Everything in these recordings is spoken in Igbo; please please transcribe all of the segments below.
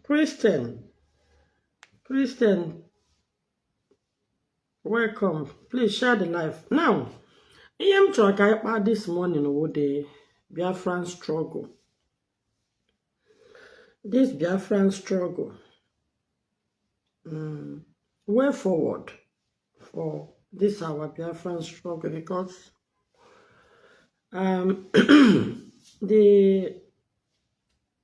Christian, Christian, welcome. Please share the life. Now, ihe m chọrọ ka anyị kpaa this morning wụ the Biafran struggle. This Biafran struggle. Mm, way forward for this our Biafran struggle because um, the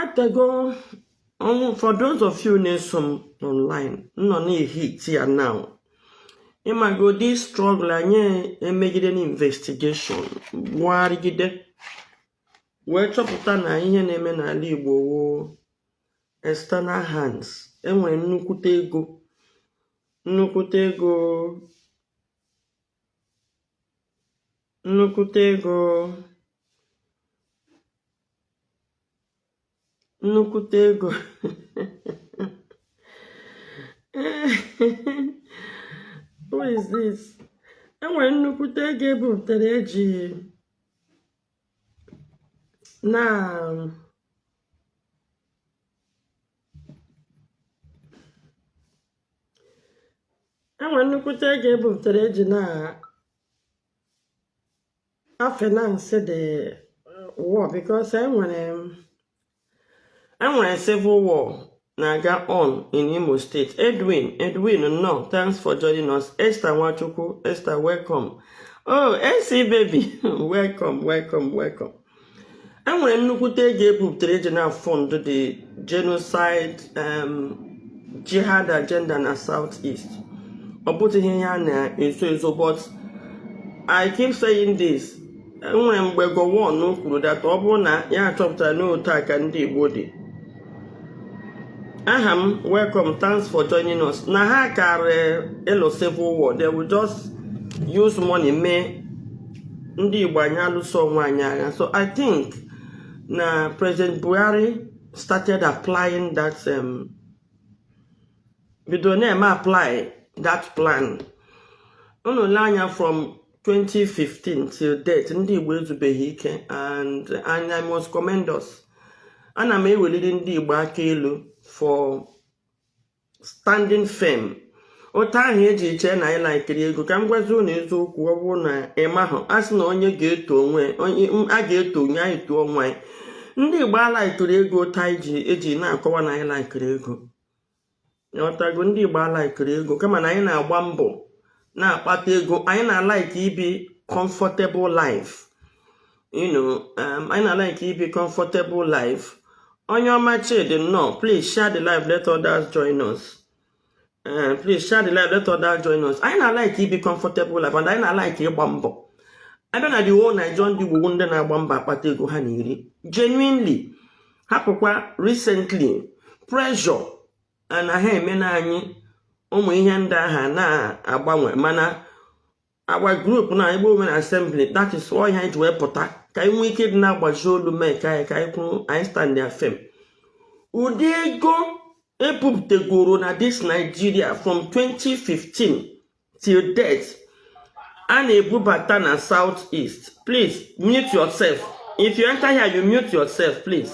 atego ọ wụ for those of you na-eso m online nọ na-ehit ya now ịmago the struggle anyị emegide na investigation gwugharịgide wee chọpụta na ihe na-eme n'ala Igbo wụ external hands enwere nnukwute ego nnukwute ego nnukwute ego nnukwute ego who is this enwere nnukwute ego ebupụtara eji na e nwere nnukwute ego ebupụtara eji na-afinance the war because enwere enwere civil war na-aga on in Imo State Edwin Edwin nnọọ thanks for joining us Esther Nwachukwu Esther welcome oh AC baby welcome welcome welcome e nwere nnukwute ego ebupụtara eji na-afund the genocide um, jihad agenda na south east ọ bụtụghị ihe a na-ezo ezo but i keep saying this enwere mgbe Gowon kwuru that ọ bụrụ na ya achọpụtara n'otu a ka ndị Igbo dị Aham welcome thanks for joining us na ha karị ịlụ civil war they will just use money mee ndị Igbo anyị alụso onwe anyị agha so I think na President Buhari started applying that um, bido na-eme apply that plan unu lee anya from 2015 till date ndị Igbo ezubeghị ike and and I must commend us ana m eweliri ndị Igbo aka elu for standing firm otu ahụ eji eche na anyị laikiri ego ka m gwazi ụnụ eziokwu ọ bụrụ na ị mahụ a sị na onye ga-eto onwe a ga-eto onye anyị too onwe anyị ndị Igbo alaikirọ ego otu ahụ eji na-akọwa na anyị laikiri ego ọtago ndị Igbo alaikirọ ego kama na anyị na-agba mbọ na-akpata ego anyị na-alaiki ibi comfortable life you know um, anyị na-alaiki ibi comfortable life Onyeọma Chidi nnọọ please share the live let others join us uh, please share the live let others join us anyị na-alaiki ibi comfortable life and anyị na-alaiki ịgba mbọ a bịa na the whole Nigeria ndị Igbo wụ ndị na-agba mbọ akpata ego ha na-eri genuinely hapụkwa recently pressure na ha eme na anyị ụmụ ihe ndị ahụ na-agbanwe mana agba group na Igbo Women Assembly that is why anyị ji wee pụta ka anyị nwee ike ịdị na-agbazi olu mee ka anyị ka anyị kwuru anyị stand ya firm ụdị ego e bupụtagoro na this Nigeria from 2015 till death a na-ebubata na south east please mute yourself if you enter here you mute yourself please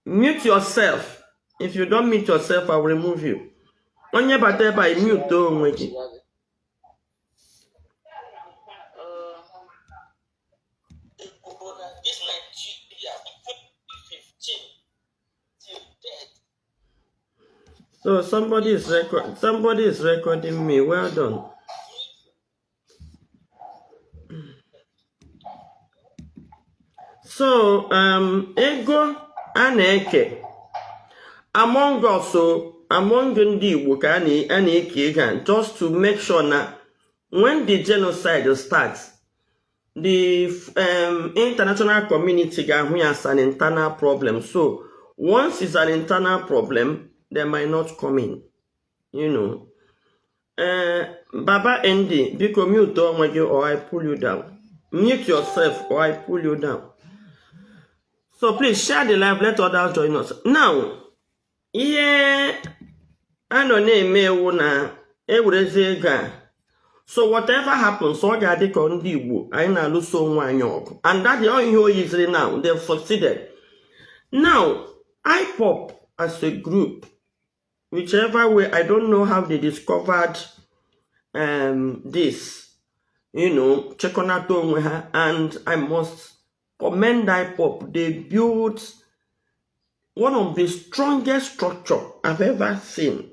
mute yourself if you don't mute yourself i will remove you onye bata ebe a mute onwe gị So somebody is record somebody is recording me. Well done. So um, ego a na-eke among us among ndị Igbo ka a na-eke ego just to make sure na when the genocide starts the um, international community ga-ahụ ya as an internal problem so once it's an internal problem they might not come in you know uh, baba nd biko mute onwe gị or i pull you down mute yourself or i pull you down so please share the live let others join us now ihe a nọ na-eme wụ na e werezi ego a so whatever happens ọ ga-adị ka ndị Igbo anyị na-alụso onwe anyị ọgụ and that is ihe o yiziri now they have succeeded now IPOB as a group whichever way I don't know how they discovered um, this you know chekọnata onwe ha and I must commend IPOB. They built one of the strongest structure I've ever seen.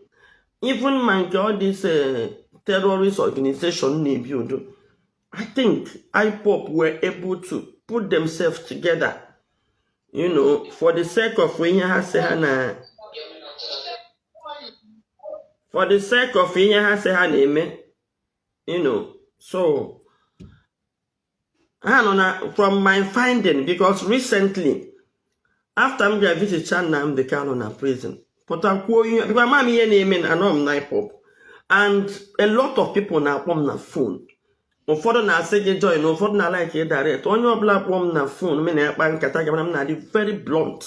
Even my God, this uh, terrorist organization Nebudu, I think IPOP were able to put themselves together, you know, for the sake of ihe ha si ha na for the sake of ihe ha si ha na-eme, you know, so ha nọ na from my finding because recently after m bịa visit Nnamdi Kanu na prison pụta kwuo ihe because ama m ihe na-eme na anọ m na IPOB and a lot of people na-akpọ m na phone ụfọdụ na-asị gị join ụfọdụ na like direct onye ọbụla kpọọ m na phone m na-akpa nkata gị mana m na-adị very blunt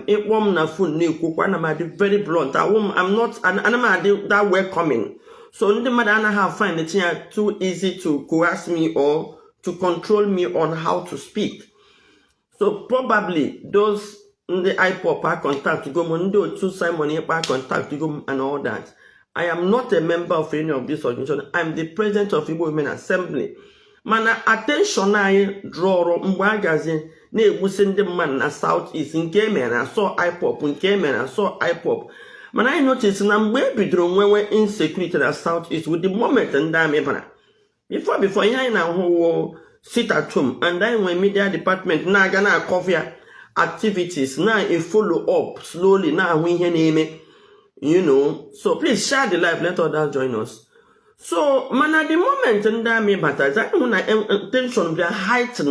ị kpọọ m na phone na-ekwukwa ana m adị very blunt awụ m I'm not ana m adị that welcoming so ndị mmadụ anaghị find it ya too easy to coerce me or to control me on how to speak so probably those ndị IPOB a contact go m ndị otu Simon Ekpa contact go m and all that I am not a member of any of this organization. I'm the president of Igbo Women Assembly. mana attention anyị drawrọ mgbe a gazi na-egbusi ndị mmadụ na South East nke e mere a sị ọ IPOB nke e mere a sị ọ IPOB mana anyị notice na mgbe e bidoro nwewe insecurity na South East wụ the moment ndị army bara before before ihe anyị na-ahụ wụ sit at home and anyị nwee media department na-aga na-acover activities na-efollow up slowly na-ahụ ihe na-eme you know so please share the live let others join us so mana the moment ndị army batazi a hụ na tension bịa heighten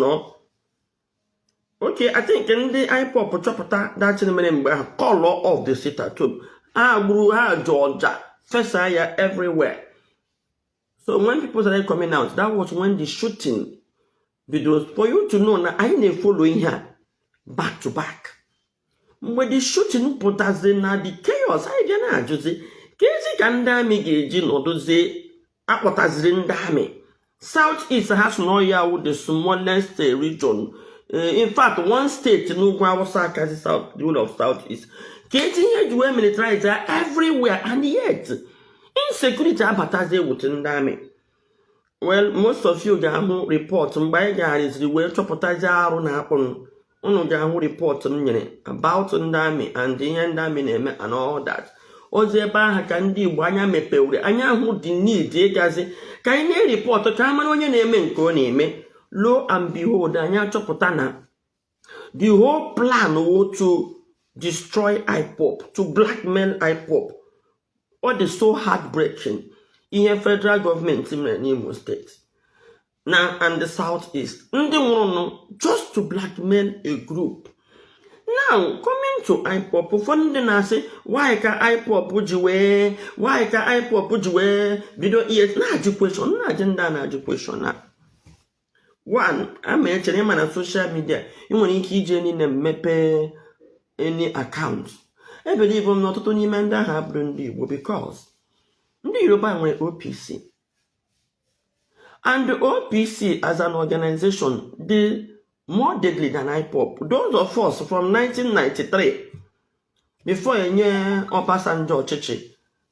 okay I think ndị IPOB chọpụtachara ihe mere mgbe ahụ call off the sit at home ha gburu ha jụ ọja fesa ya everywhere so when people started coming out that was when the shooting bidoro for you to know na anyị na-efollow ihe a back to back mgbe the shooting pụtazi na the chaos anyị bịa na-ajụzi keezi ka ndị army ga-eji nọdụzie a kpọtaziri ndị army south east ha sị na ọ ya wụ the smallest eh, region eh, in fact one state n'ugwu Awụsa akazi south the whole of south east keezi ihe e ji wee militarize everywhere and yet insecurity abatazie e wute ndị army well most of you ga-ahụ rịpọtụ mgbe anyị gagharịziri wee chọpụtazi arụ na-akpụnụ unu ga-ahụ rịpọtụ m nyere about ndị amị and ihe ndị amị na-eme and all that ọ bụzi ebe ahụ ka ndị igbo anya mepewere anyị ahụ the need ịgazi ka anyị na-eripọtụ ka a mara onye na-eme nke ọ na-eme lo and behold anyị achọpụta na the whole plan wụ to destroy ipob to blackmail ipob ọ dị so heartbreaking ihe federal gọọmenti mere n'imo steeti na and the south east ndị nwụrụnụ just to blackmail a group now coming to ipob ụfọdụ ndị na-asị why ka ipob ji wee why ka ipob ji wee bido ihe m na-ajụ kweshọn m na-ajụ ndị a na-ajụ kweshọn a one ama echere ị ma na soshal midia ị nwere ike iji any name mepee any account ebelieve m na ọtụtụ n'ime ndị ahụ abụdị ndị Igbo because ndị Yoruba nwere OPC and OPC as an organization dị more deadly than IPOB those of us from 1993 before enye Obasanjo ọchịchị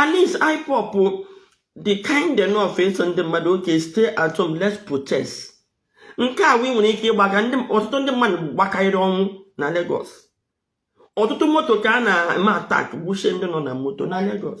at least IPOB dị kind enough ịsị ndị mmadụ okay stay at home let's protest nke a wụ ị nwere ike ịgbaga ọtụtụ ndị mmadụ gbakarịrị ọnwụ na Lagos ọtụtụ moto ka a na-eme attack gbuchie ndị nọ na moto na Lagos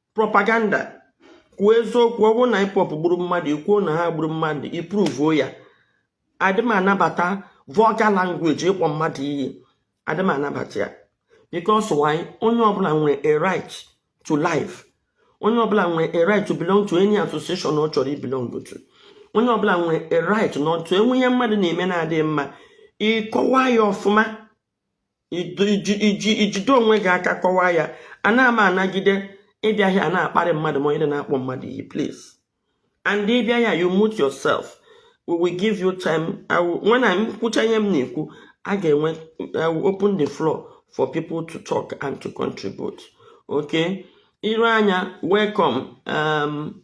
propaganda kwuo eziokwu ọ bụrụ na ipob gburu mmadụ i kwuo na ha gburu mmadụ i pruvuo ya adị m anabata vulgar language ịkpọ mmadụ iyi adị m anabata ya because why onye ọbụla nwere a right to life onye ọbụla nwere a right to belong to any association ọ chọrọ ibelong to onye ọbụla nwere a right to enwee ihe mmadụ na-eme na-adịghị mma ị kọwaa ya ọfụma iji i jide onwe gị aka kọwaa ya anaghị m anagide ịbịa hịa na-akparị mmadụ ma onye na-akpọ mmadụ iyi please and ị bịa hịa you mute yourself we will give you time when m kwucha ihe m na-ekwu a ga-enwe open the floor for people to talk and to contribute okay iru anya welcome um,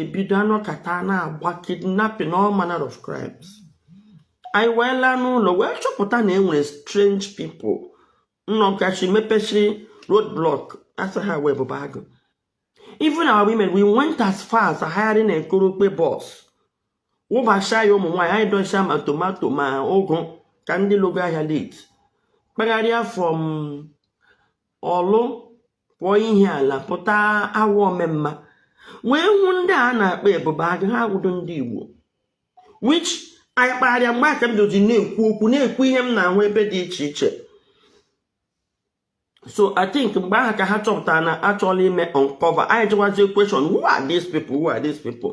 ebido anọkata a na-agba kidnapping all manner of crimes anyị wee laa n'ụlọ wee chọpụta na enwere strange people nọ n'akachi mepechiri road block asị ha wee bụba agụ even our women we went as far as hiring a koropwe bus wụbacha ya ụmụ nwaanyị anyị dọcha ma tomato ma ụgụ ka ndị lọga ahịa late kpagharịa from orlu pụọ ihiala pụta awo omamma wee hụ ndị a na-akpọ ebube agụ ha wụdo ndị igbo which anyị kpagharịa mgbe aha ka m doji na-ekwu okwu na-ekwu ihe m na-ahụ ebe dị iche iche so i think mgbe ahụ ka ha chọpụtara na a chọọla ime uncover anyị jụwazie question who are these people who are these people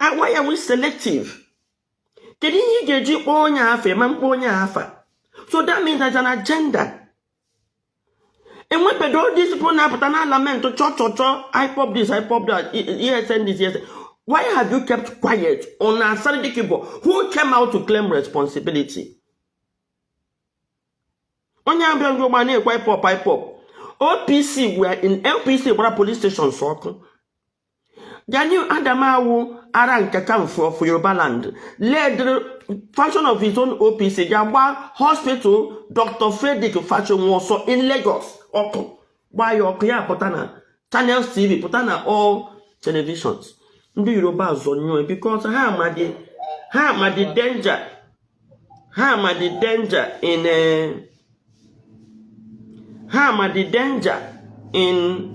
Ah, why are we selective kedu ihe ị ga-eji kpọọ onye afa ma mkpọ onye afa so that means there's an agenda enwebedo all these people na-apụta na-alament chọ chọ chọ ipob this ipob that esn this esn why have you kept quiet on asari dokubo who came out to claim responsibility onye abịa ndị igbo na-ekwu ipob ipob opc were in opc gbara police stations ọkụ Gani Adam wụ Aare Ona Kakanfo of Yoruba land led faction of his own OPC ga gba hospital Dr. Fredrick Fasehun also in Lagos ọkụ gbaa ya ọkụ ya pụta na Channels TV pụta na all televisions ndị Yoruba azọnyụọ ya because ha ma the ha ma the danger ha ma the danger in eh, ha ma the danger in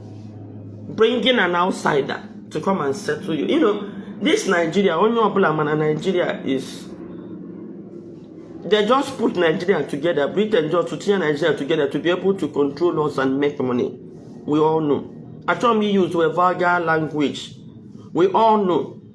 bringing an outsider to come and settle you you know this nigeria onye ọbụla mana nigeria is they just put nigeria together britain just to tinye nigeria together to be able to control us and make money we all know achọrọ m use a vulgar language we all know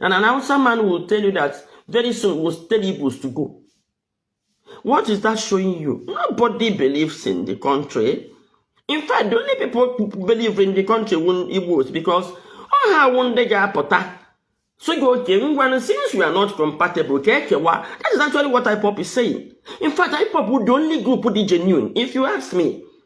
And an Hausa man will tell you that very soon will tell Igbos to go. What is that showing you? Nobody believes in the country. In fact, the only people who believe in the country were Igbos because all ha wụ ndị ga-apụta so gị oke ngwanụ since we are not compatible ka ekewa that is actually what IPOP is saying. In fact, IPOP bụ the only group dị genuine if you ask me.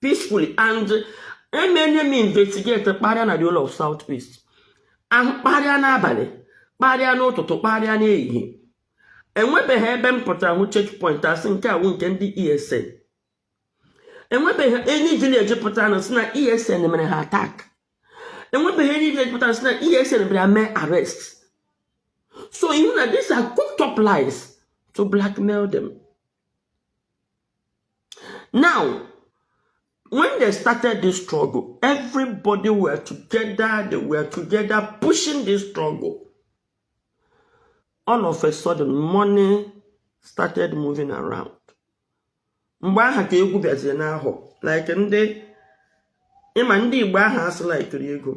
peacefully and emeela m investigate kparịa na the whole of south east ahụ kparịa n'abalị kparịa n'ụtụtụ kparịa n'ehihie enwebeghị ebe m pụtara hụ checkpoint a sị nke a wụ nke ndị esn enwebeghị any village pụtaranụ sị na esn mere ha attack enwebeghị any village pụtara sị na esn bịara mee arrest so ị hụ na these are cooked up lies to blackmail them Now, when they started this struggle, everybody were together, they were together pushing this struggle. All of a sudden, money started moving around. Mgbe aha ka egwu bịaziri n'ahụ like ndị ị ma ndị Igbo aha a sị laikiri ego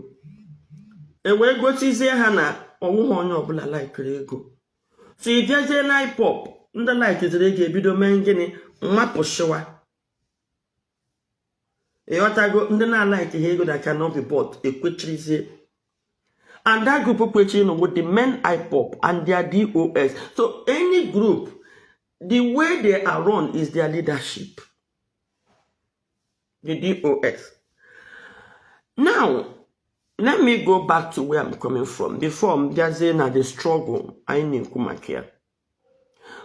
e wee gosizie ha na ọwụghị onye ọbụla laikiri ego so ị bịazie na ipob ndị laikiziri ego ebido mee gịnị mapụsịwa ịghọtago ndị na-alaikiha ego that cannot be bought ekwechirizie and that group kwechirinụ wụ the main ipob and their dos so any group the way they are run is their leadership the DOS. Now, let me go back to where I'm coming from before m bịazie na the struggle anyị na-ekwu maka ya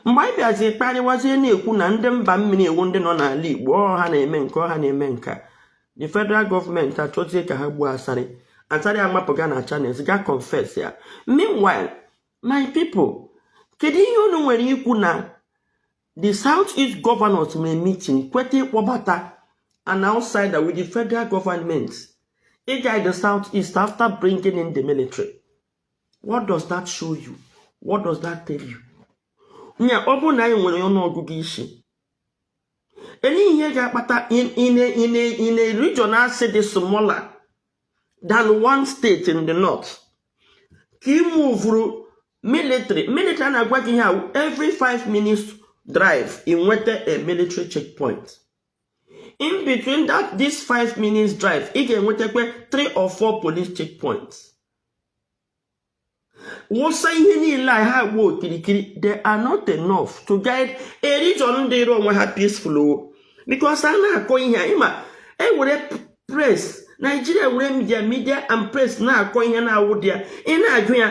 mgbe anyị bịazie kparịwazie na-ekwu na ndị mba mmiri wụ ndị nọ n'ala Igbo ọ ha na-eme nke a ọ ha na-eme nke a the federal government achọzie ka ha gbuo asari asari amapụga na Channels ga confess ya meanwhile my people kedu ihe unu nwere ikwu na The South East governors mere meeting kweta ịkpọbata an outsider with the federal government ịga the South East after bringing in the military. What does that show you? What does that tell you? Nya ọ bụrụ na anyị nwere nnọọ ọgụgụ isi elee ihe ga-akpata in a region a sị dị smaller than one state in the north ka e muvuru military military na-agwa gị ihe every five minutes drive i nweta a military checkpoint in between that this five minutes drive ị ga-enwetakwa three or four police checkpoints wụsa ihe niile a ha agba okirikiri they are not enough to guide a region dịrị onwe ha peaceful o because a na-akọ ihe a ị ma e were press Nigeria were media media and press na-akọ ihe na-awụdị ya ị na-ajụ ya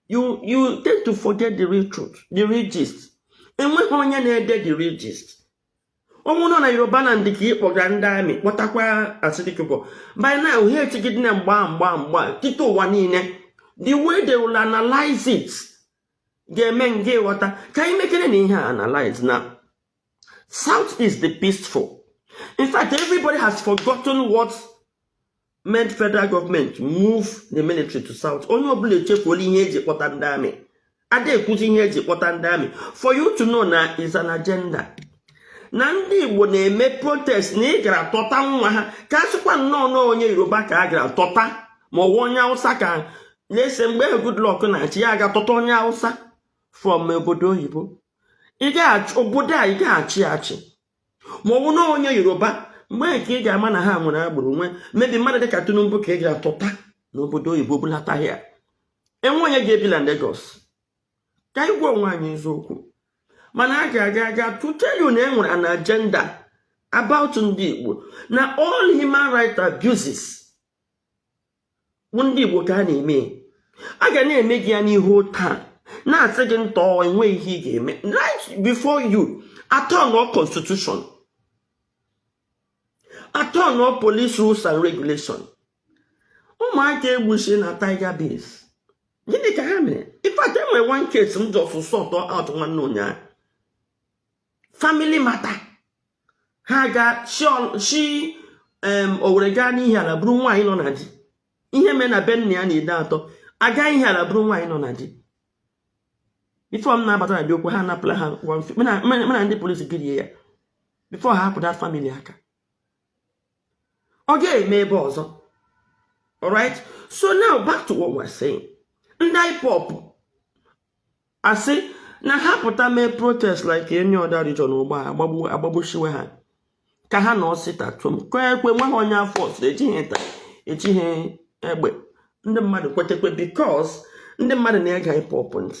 you you tend to forget the real truth the real gist enweghị onye na-ede the real gist ọ wụ nọọ na Yoruba land ka ị kpọga ndị amị kpọtakwa Asari Dokubo by now ha echigidena mgba mgba mgba tite ụwa niile the way they will analyze it ga-eme ngị ghọta ka anyị mekere na ihe a analyze na South East dị peaceful in fact everybody has forgotten what made federal government move the military to south onye ọbụla echefuola ihe e ji kpọta ndị amị ada ekwuzi ihe e ji kpọta ndị amị for you to know na is an agenda na ndị igbo na-eme protest na ị gara tọta nwa ha ka a sịkwa nnọọ na ọ onye yoruba ka a gara tọta ma ọ wụ onye awụsa ka anyị sị mgbe ahụ goodluck na-achị ya aga tọta onye awụsa from obodo oyibo obodo a ị ga-achị achị ma ọ bụ na onye yoruba mgbe a ka ị ga-ama na ha nwere agbụrụ o nwee maybe mmadụ dịka tinubu ka ị ga tọta n'obodo oyibo bulata ya e nwe onye ga-ebi na Lagos ka anyị gwa onwe anyị eziokwu mana a ga-aga aga to tell you na e nwere an agenda about ndị Igbo na all human rights abuses ndị Igbo ka a na-eme a ga na-eme gị ya n'ihu taa na-asị gị ntọọ enweghị ihe ị ga-eme right before you a tọ nọọ constitution a tọ nọọ police rules and regulation ụmụaka e gbuchi na tiger base gịnị ka ha mere in fact e nwere one case m just sort out nwanne ụnyaahụ family matter ha ga shi Owere gaa n'Ihiala buru nwaanyị nọ na di ihe mee na be nna ya n'Ideato a gaa Ihiala buru nwaanyị nọ na di before m na-abata na the okwu ha anapụla ha na ndị police girie ya before ha ahapụ that family aka ọ ga-eme ebe ọzọ alright so now back to what we're saying ndị IPOB asị na ha pụta mee protest like any other region ugbu a agbagbushiwe ha ka ha nọọ sit at home kọọ ekwe nweghị onye a force ejighị nta ejighị egbe ndị mmadụ kwetekwe because ndị mmadụ na-ege IPOB ntị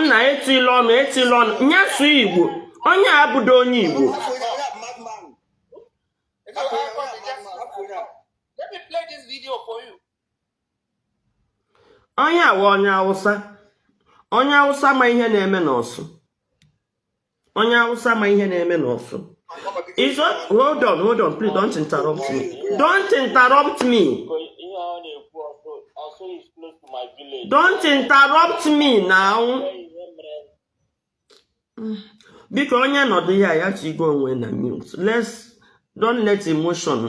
nna etila ọnụ etila ọnụ ya sụọ igbo onye a abụdo onye igbo onye a wụ onye awụsa onye awụsa ma ihe na-eme n'Orsu onye awụsa ma ihe na-eme n'Orsu izo hold on hold on please don't interrupt me don't interrupt me don't interrupt me now biko onye nọdụ ya ya chigo onwe na mute let's don't let emotion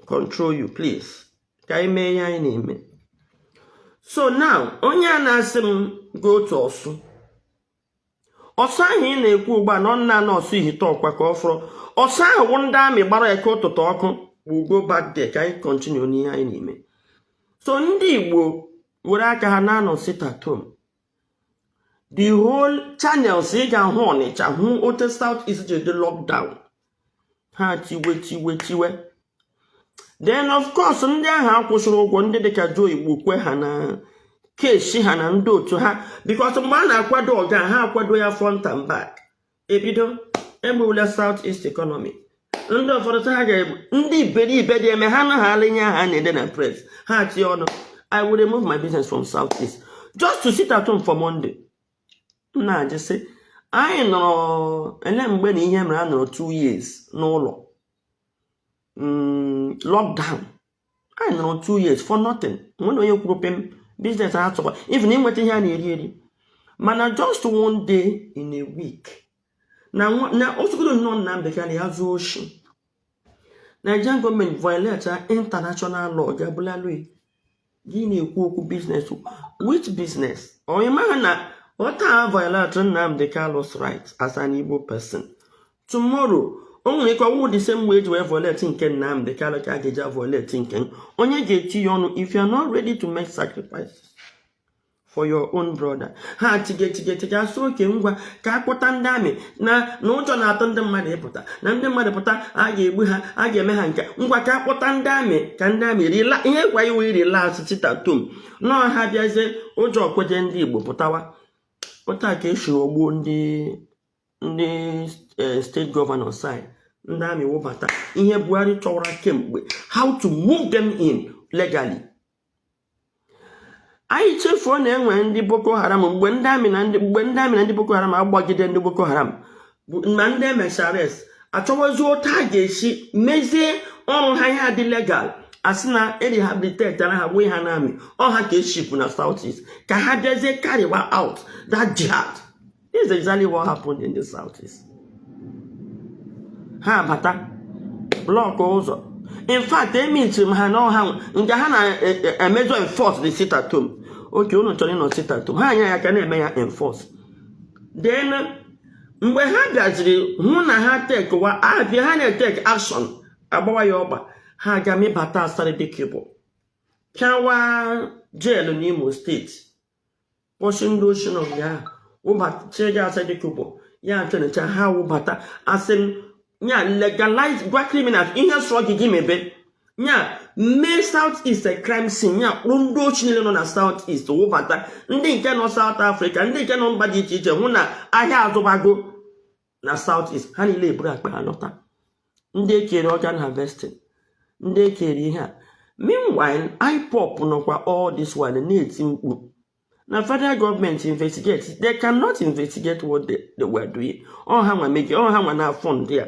control you please ka anyị mee ihe anyị na-eme so now onye a na-asị m go to Orsu Orsu ahụ ị na-ekwu ugbu a na ọ nna nọ Orsu Ihiteukwa ka ọ fọrọ Orsu ahụ bụ ndị army gbara Eke Ụtụtụ ọkụ we go back there ka anyị kọntinu n'ihe anyị na-eme so ndị igbo were aka ha na-anọ sit at home the whole channels ị ga-ahụ ọnịcha hụ otu south east ji dị lockdown ha tiwe tiwe tiwe then of course ndị ahụ a kwụsịrị ụgwọ ndị dịka Joe Igbokwe ha na kesi ha na ndị otu ha because mgbe a na-akwado ọga ha akwado ya front and back ebido egbuola South East economy ndị ụfọdụ ha ga-egbu ndị iberibe dị eme ha anaghị alịnye ha na-ede na press ha tie ọnụ I will remove my business from South East just to sit at home for Monday m na-ajụ sị anyị nọrọ ele mgbe na ihe mere a nọrọ 2 years n'ụlọ mm, lockdown anyị nọrọ 2 years for nothing nwere onye kwuru pem biznes ha tụkwa even ịnweta ihe a na-eri eri mana just one day in a week na na otugodo nnọọ nna bekee na ya zuo oshi Nigerian gọọmenti violate international law ga-abụla lui gị na-ekwu okwu biznes which biznes onye maha na ọ taa a violate Nnamdi Kalu's right as an Igbo person tomorrow o nwere ike ọ wụ the same way eji wee violate nke Nnamdi Kalu ka a ga-eji violate nke onye ga-eti ya ọnụ if you are not ready to make sacrifices for your own brother ha chigechigechiga asị oke ngwa ka akpọta ndị amị na na ụjọ na-atụ ndị mmadụ ịpụta na ndị mmadụ pụta a ga-egbu ha a ga-eme ha nke ngwa ka akpọta ndị amị ka ndị amị rila ihe gwa iwe irila sit at home nọọ ha bịazie ụjọ ekweghị ndị igbo pụtawa pụta ka esi rọgbuo ndị ndị eh, steeti gọvanọ sign ndị amị wụbata ihe buhari chọwara kemgbe how to move them in legally anyị chefuo na enwere ndị boko haram mgbe ndị amị na ndị mgbe ndị amị na ndị boko haram agbagide ndị boko haram na ndị emissaries achọwazi otu a ga-esi mezie ọrụ ha ya adị legal asị na erehabilitetara ha wee ha na amị ọ ha ka eshipụ na south east ka ha bịazie karịwa out that jihad This is exactly what happened in the southeast. Ha bata blọk ụzọ in fact emitiri m ha na ọha nke ha na-emejọ e, e, enforce the sit at home oke unu chọrọ ịnọ sit at home ha anya ya ka na-eme ya enforce then mgbe ha bịaziri hụ na ha tekwa abịa ha na-etek action agbawa ya ọgba ha aga mịbata asari dokubo pịawa jeelu n'imo steeti kpọchi ndị oshi nọ nga ahụ wụbata chịnye asari dokubo ya atrenịcha ha wụbata asị m nya legalize gwa criminals ihe sọrọ gị gị mebe nya mee south east crime scene nya kpọrọ ndị oshi niile nọ na south east wụbata ndị nke nọ south africa ndị nke nọ mba dị iche iche hụ na ahịa azụbago na south east ha niile eburu akpa ha lọta ndị ekere organ harvesting ndị ekere ihe a meanwhile ipop nọkwa all this while na-eti mkpu na federal gọọmenti investigate they cannot investigate what they, they were doing ọ ha nwa mege ọ ha nwa na-afund ndị a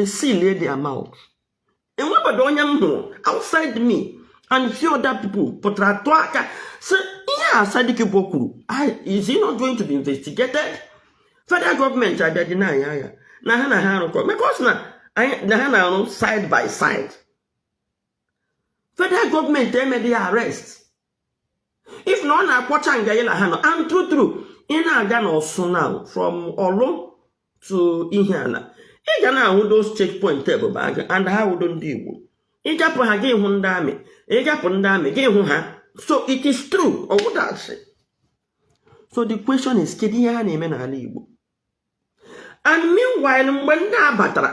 esilie their mouth enwebeghị onye m hụrụ outside me and few other people pụtara tụọ aka si ihe Asari Dokubo kwuru is he not going to be investigated federal gọọmenti abịa deny ya na ha na ha arụkọ because na ha na-arụ side by side federal gọọmenti emeghị ya arrest if na ọ na-akpọcha nga niile ha nọ and true true ị na-aga n'ọsụ na from ọlụ to ihiala ị ga na-ahụ those checkpoint ebubeagụ and ha awụdị ndị igbo ị gapụ ha gị hụ ndị amị ị gapụ ndị amị gị hụ ha so it is true ọ wụdị asị so the question is kedu ihe ha na-eme n'ala igbo and meanwhile mgbe ndị a batara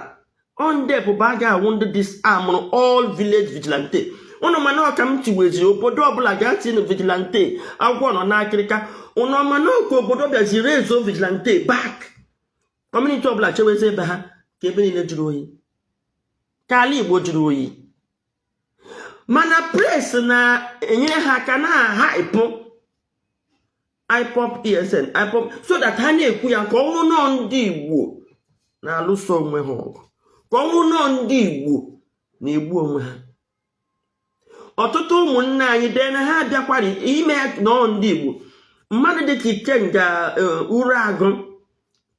ndị Ebube Agụ awụ ndị disarmụrụ all village vigilante ụnụ ma na ọ ka m tiweziri obodo ọbụla gaa tinụ vigilante agwọ nọ n'akịrịka ụnụ ma na ọ ka obodo bịaziri ezo vigilante back kọmuniti ọbụla chewezi ebe ha ka ebe niile jụrụ oyi ka ala igbo jụrụ oyi mana pres na-enyere ha aka na-ahaịpụ IPOB ESN IPOB so that ha na-ekwu ya ka ọ wụ nọọ ndị Igbo na-alụso onwe ha ọgụ ka ọ wụ nọọ ndị Igbo na-egbu onwe ha ọtụtụ ụmụnne anyị dee na ha abịakwara ime nọọ ndị Igbo mmadụ dịka Ikenga e, Uruagụ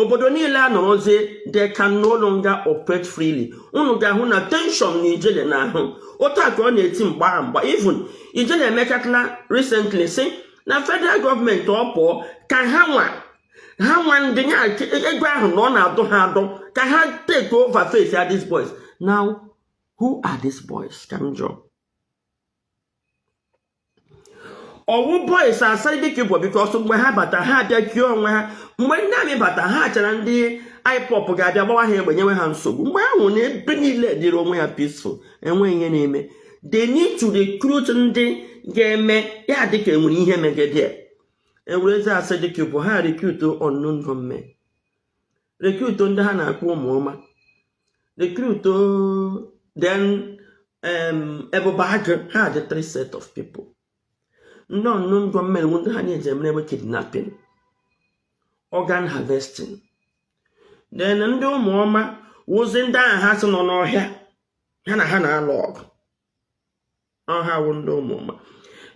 obodo niile anọrọzie they can no longer operate freely unu ga-ahụ na tension na ijele na ahụ otu a ka ọ na-eti mgba mgba even ijele emekatala recently sị na federal gọọmenti ọ pụọ ka ha nwa ha nwa ndị ya ego ahụ na ọ na-adọ ha adọ ka ha take over face ya these boys now who are these boys ka m jụọ ọ wụ boys Asari Dokubo because mgbe ha bata ha abịa kie onwe ha mgbe ndị amị bata ha achara ndị IPOB ga-abịa gbawa ha egbe nyewe ha nsogbu mgbe ha hụ na ebe niile dịrị onwe ya peaceful enweghị ihe na-eme they need to recruit ndị ga-eme ya dịka enwere ihe megede e werezie Asari Dokubo ha recruit unknown gunmen rekruto ndị ha na-akpọ ụmụọma rekruto then Ebube Agụ ha dị three set of people ndị unknown gunmen wụ ndị ha na-eji emere ebe kidnapping organ harvesting then ndị ụmụọma wụzi ndị ahụ ha sị nọ n'ọhịa ha na ha na-alụ ọgụ ọ ha wụ ndị ụmụọma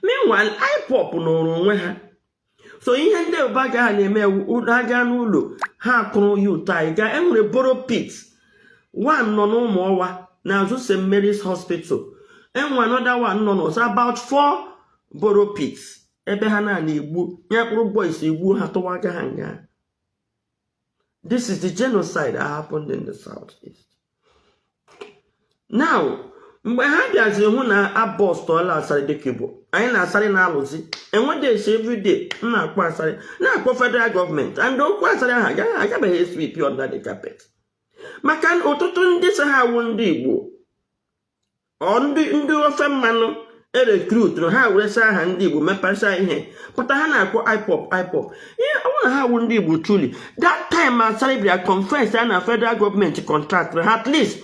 meanwhile IPOB nọrọ onwe ha so ihe ndị Ebube Agụ a na-eme agaa n'ụlọ ha akpụrụ youth anyị gaa enwere borrow pit one nọ n'Ụmụọwa n'azụ St Mary's Hospital enwere another one nọ n'Orsu about four borrow pit ebe ha na-egbu ya kpụrụ boys egbuo ha tụwaga ha nga This is the genocide that happened in the southeast. Now, mgbe ha bịaziri hụ na abọstọla Asari Dokubo anyị na Asari na-alụzi nowadays everyday m na-akpọ Asari na-akpọ federal gọọmenti and okwu Asari ahụ agaghị agabeghị sweep under the carpet maka na ọtụtụ ndị so ha awụ ndị Igbo ọ ndị ndị ofe mmanụ erekrutụrụ ha weresa aha ndị igbo mepesa ihe pụta ha na-akpọ IPOB IPOB ihe ọ bụrụ na ha wụ ndị igbo truly that time Asari bịa confess na federal gọọmenti kọntraktịrị ha at least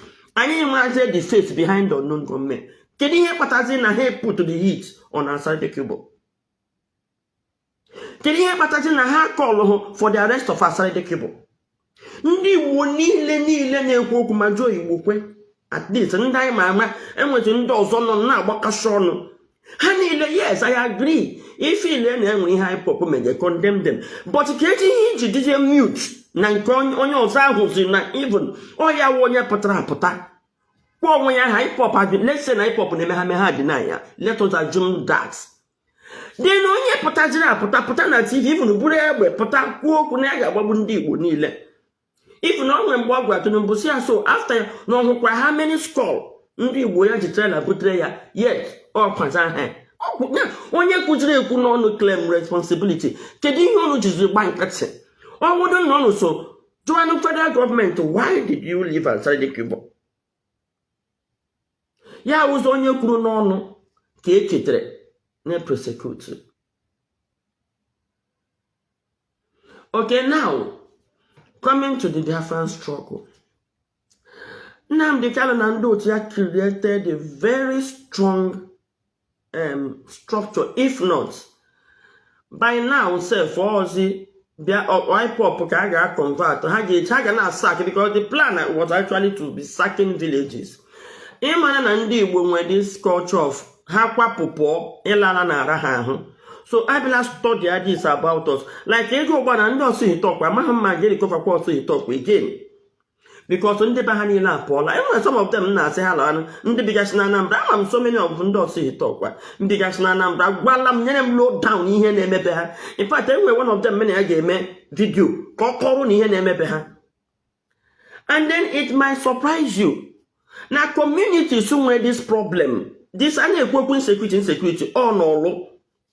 anyị nwezi the face behind the unknown gunmen kedu ihe kpatazi na ha put the heat on Asari Dokubo kedu ihe kpatazi na ha kọlụhụ for the arrest of Asari Dokubo ndị Igbo niile niile na-ekwu okwu ma Joe Igbokwe at least ndị anyị ma ama enwetụ ndị ọzọ nọ na-agbakasị ọnụ ha niile yes I agree if ị lee na enwere ihe IPOB mege condemn them but kedu ihe iji dịzie mute na nke onye ọzọ ahụ si na even ọ ya wụ onye pụtara apụta kpọọ onwe ya ha IPOB let's say na IPOB na-eme ha mee ha deny ya let us assume that then onye pụtaziri apụta pụta na tv even buru egbe pụta kwuo okwu na ya ga-agbagbu ndị igbo niile even o nwe mgbe ọ gwara tinubu si ya so afta ya na ọ hụkwa how many skull ndị igbo ya ji trela butere ya yet ọ kwaza ha onye kwuziri ekwu n'ọnụ claim responsibility kedu ihe unu jiziri gba nkịtị ọ wụdụ na unu so jụanụ federal gọọmenti why did you leave Asari Dokubo ya wụ sọ onye kwuru n'ọnụ ka e chetere na prosecute okay now coming to the Biafran struggle Nnamdi Kanu na ndị otu ya created a very strong um, structure if not by now sef ozi bịa IPOB ka a ga-convert ha ga-eji ha ga na-asak because the plan was actually to be sacking villages ị mara na ndị Igbo nwere this culture of ha kwapụ pụọ ịla ala na-ara ha ahụ so ha abịala study this about us like ị ga ugbua na ndị ọsụ Ihiteukwa amaghị m ma a ga-erikọvakwa ọsụ Ihiteukwa again because ndị be ha niile apụọla enwere some of them na-asị ha lawanụ ndị bigasị na Anambra ama m so many of ndị ọsụ Ihiteukwa bigasị na Anambra gwala m nyere m low down ihe na-emebe ha in fact enwere one of them m na ya ga-eme vidio ka ọ kọọrọ unu ihe na-emebe ha and then it might surprise you na communities nwere this problem this a na-ekwu okwu insecurity insecurity ọ n'ọlụ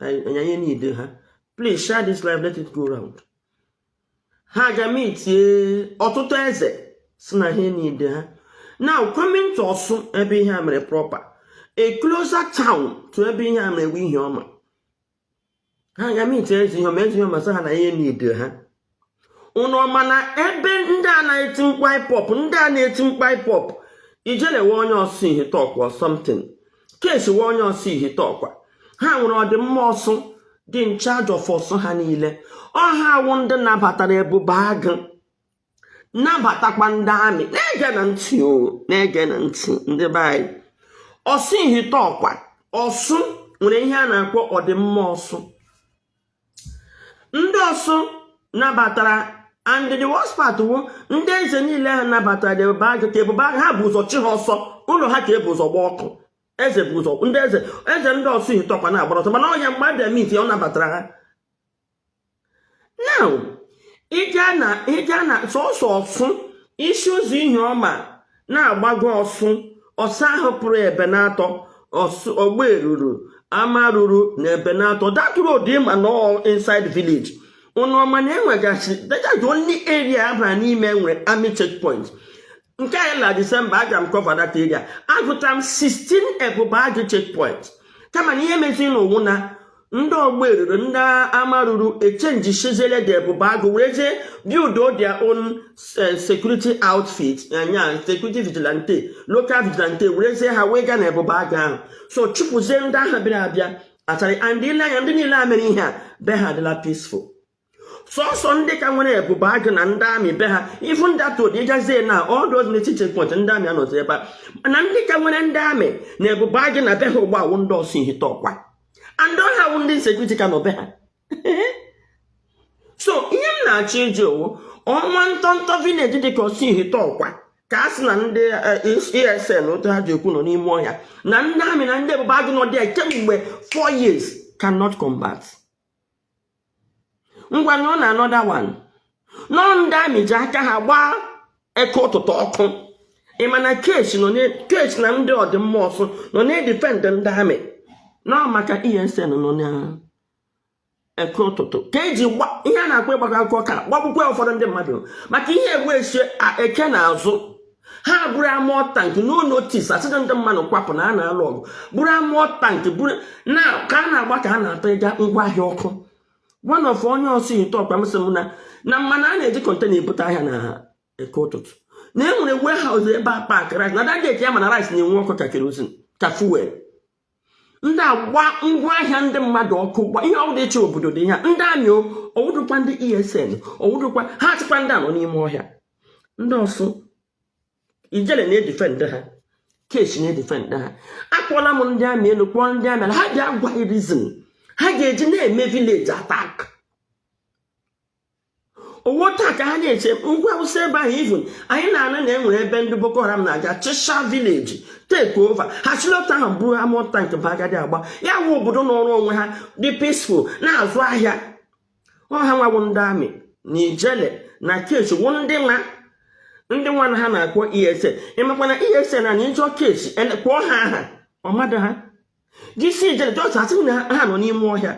anyị niide ha please share this live let it go round ha ga mitie ọtụtụ eze si na ha niide ha now coming to ọsụ ebe ihe a mere proper a closer town to ebe ihe a mere wụ Ihioma ha ga mitie eze Ihioma eze Ihioma sị ha na ya niide ha unu ọ ma na ebe ndị a na-eti mkpu IPOB ndị a na-eti mkpu IPOB ijele wụ onye ọsụ Ihiteukwa something kesi wụ onye ọsụ Ihiteukwa ha nwere ọdịmma ọsụ dị in charge of ọsụ ha niile ọ ha wụ ndị nabatara ebube agụ nabatakwa ndị amị na-ege na ntị o na-ege na ntị ndị be anyị ọsụ Ihiteukwa ọsụ nwere ihe a na-akpọ ọdịmma ọsụ ndị ọsụ nabatara and the worst part wụ ndị eze niile ha nabatara the ebube agụ ka ebube agụ ha bu ụzọ chụ ha ọsọ ụlọ ha ka ebu ụzọ gbaa ọkụ eze bụ ụzọ ndị eze eze ndị ọsụ ihiteụkwa na-agbara ọsọ mana ọnya mgbe abịa mit ọ nabatara ha now ịga na ịga na sọsọ ọsụ i si ụzọ ihioma na-agbago ọsụ ụzọ ahụ pụrụ ebenatọ ọgberuru amaruru na ebenatọ that road ịma na inside village ụnụ ọma na enwegasị dajajụ only area ahụ n'ime nwere army checkpoint nke anyị na disemba aga m cover that area agụta m 16 ebube agụ checkpoint kama na ihe mezi n'ụwụ na ndị ọgberuru ndị amaruru echenjishiziele the ebube agụ werezie build their own eh, security outfit nya security vigilante local vigilante werezie ha wee gaa na ebube agụ ahụ so chụpụzie ndị ahụ bịara abịa actually and i lee anya ndị niile a mere ihe a be ha adịla peaceful sọsọ ndị ka nwere ebube agụ na ndị army be ha ifu ndị atụ ụdị ịgazie na ọdụ ozi n'echi checkpoint ndị army anọzi ebe a mana ndị ka nwere ndị army na ebube agụ na be ha ugbu a wụ ndị ọsụ ihiteụkwa and ọ ha wụ ndị security ka nọ be ha so ihe m na-achọ ịjụ wụ nwa ntọntọ village dị ka ọsụ ihiteụkwa ka a sị na ndị esn eh, e otu ha ji ekwu nọ n'ime ọhịa na ndị army na ndị ebube agụ nọ there kemgbe 4 years cannot combat ngwa na ụlọ another one nọ ndị army ji aka ha gbaa eke ụtụtụ ọkụ ịma na keshi na ndị ọdịmma ọsụ nọ na-edefend ndị army na ọ maka esn nọ na eke ụtụtụ ka eji gbaa ihe a na-akpọ ịgbakọ akụkọ ka gbagbukwa ụfọdụ ndị mmadụ maka ihe egbu esie eke na azụ ha buru armoured tank no notice asịdụ ndị mmadụ kwapụ na a na-alụ ọgụ buru armoured tank bụrụ na ka a na-agba ka a na-atọ ịga ngwa ahịa ọkụ one of onye ọsụ ihiteụkwa m sị m na na ị ma na a na-eji container ebute ahịa na eke ụtụtụ na e nwere warehouse ebe a pack rice na that day ka ya ma na rice na-enwu ọkụ ka kerosene ka fuel ndị agba ngwa ahịa ndị mmadụ ọkụ gba ihe ọbụla ịchị obodo dị ya ndị army ọwụdụkwa ndị esn ọwụdụkwa ha achịkwa ndị a nọ n'ime ọhịa ndị ọsụ ijele na-edefend ha keshi na-edefend ha akpọọla m ndị army elu kpọọ ndị army ala ha bịa gwa reason ha ga-eji na-eme village attack ọ wụ taa ka ha na-eche ngwa awụsa ebe ahụ even anyị na-anụ na enwere ebe ndị boko haram na-aga chịsha village take over ha shi l'otu ahụ buru armoured tank bịa gadị agba ya wụ obodo nọọrọ onwe ha dị peaceful na-azụ ahịa ọ ha nwa wụ ndị army na ijele na keshi wụ ndị nwa ndị nwa na ha na-akpọ esn ịmakwa na esn na ị jụọ keshi e kpọọ ha aha ọ madụ ha jisi ijele just asị na ha nọ n'ime ọhịa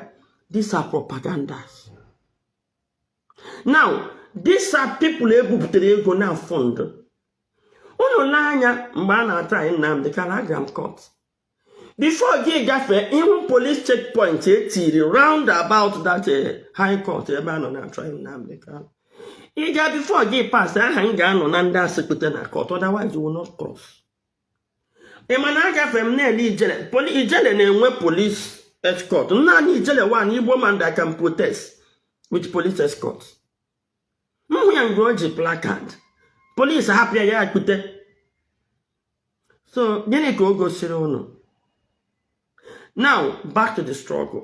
these are propagandas now these are people ebupụtara ego na fund unu lee anya mgbe a na-atry Nnamdi Kanu agara m court before gị gafee ihu police checkpoint etiri round about that eh, high court ebe a nọ na-atry Nnamdi Kanu ịga bifo gị pas aha m ga-anọ na ndị a sị kpọte na kọt otherwise you will not cross ị ma na agafere m na-ele ijele ijele na-enwe polis escort naanị ijele wụ an igbo man that can protest with police escort m hụ ya mgbe o ji plakad polis hapụ ya ya akpute so gịnị ka o gosiri unu now back to the struggle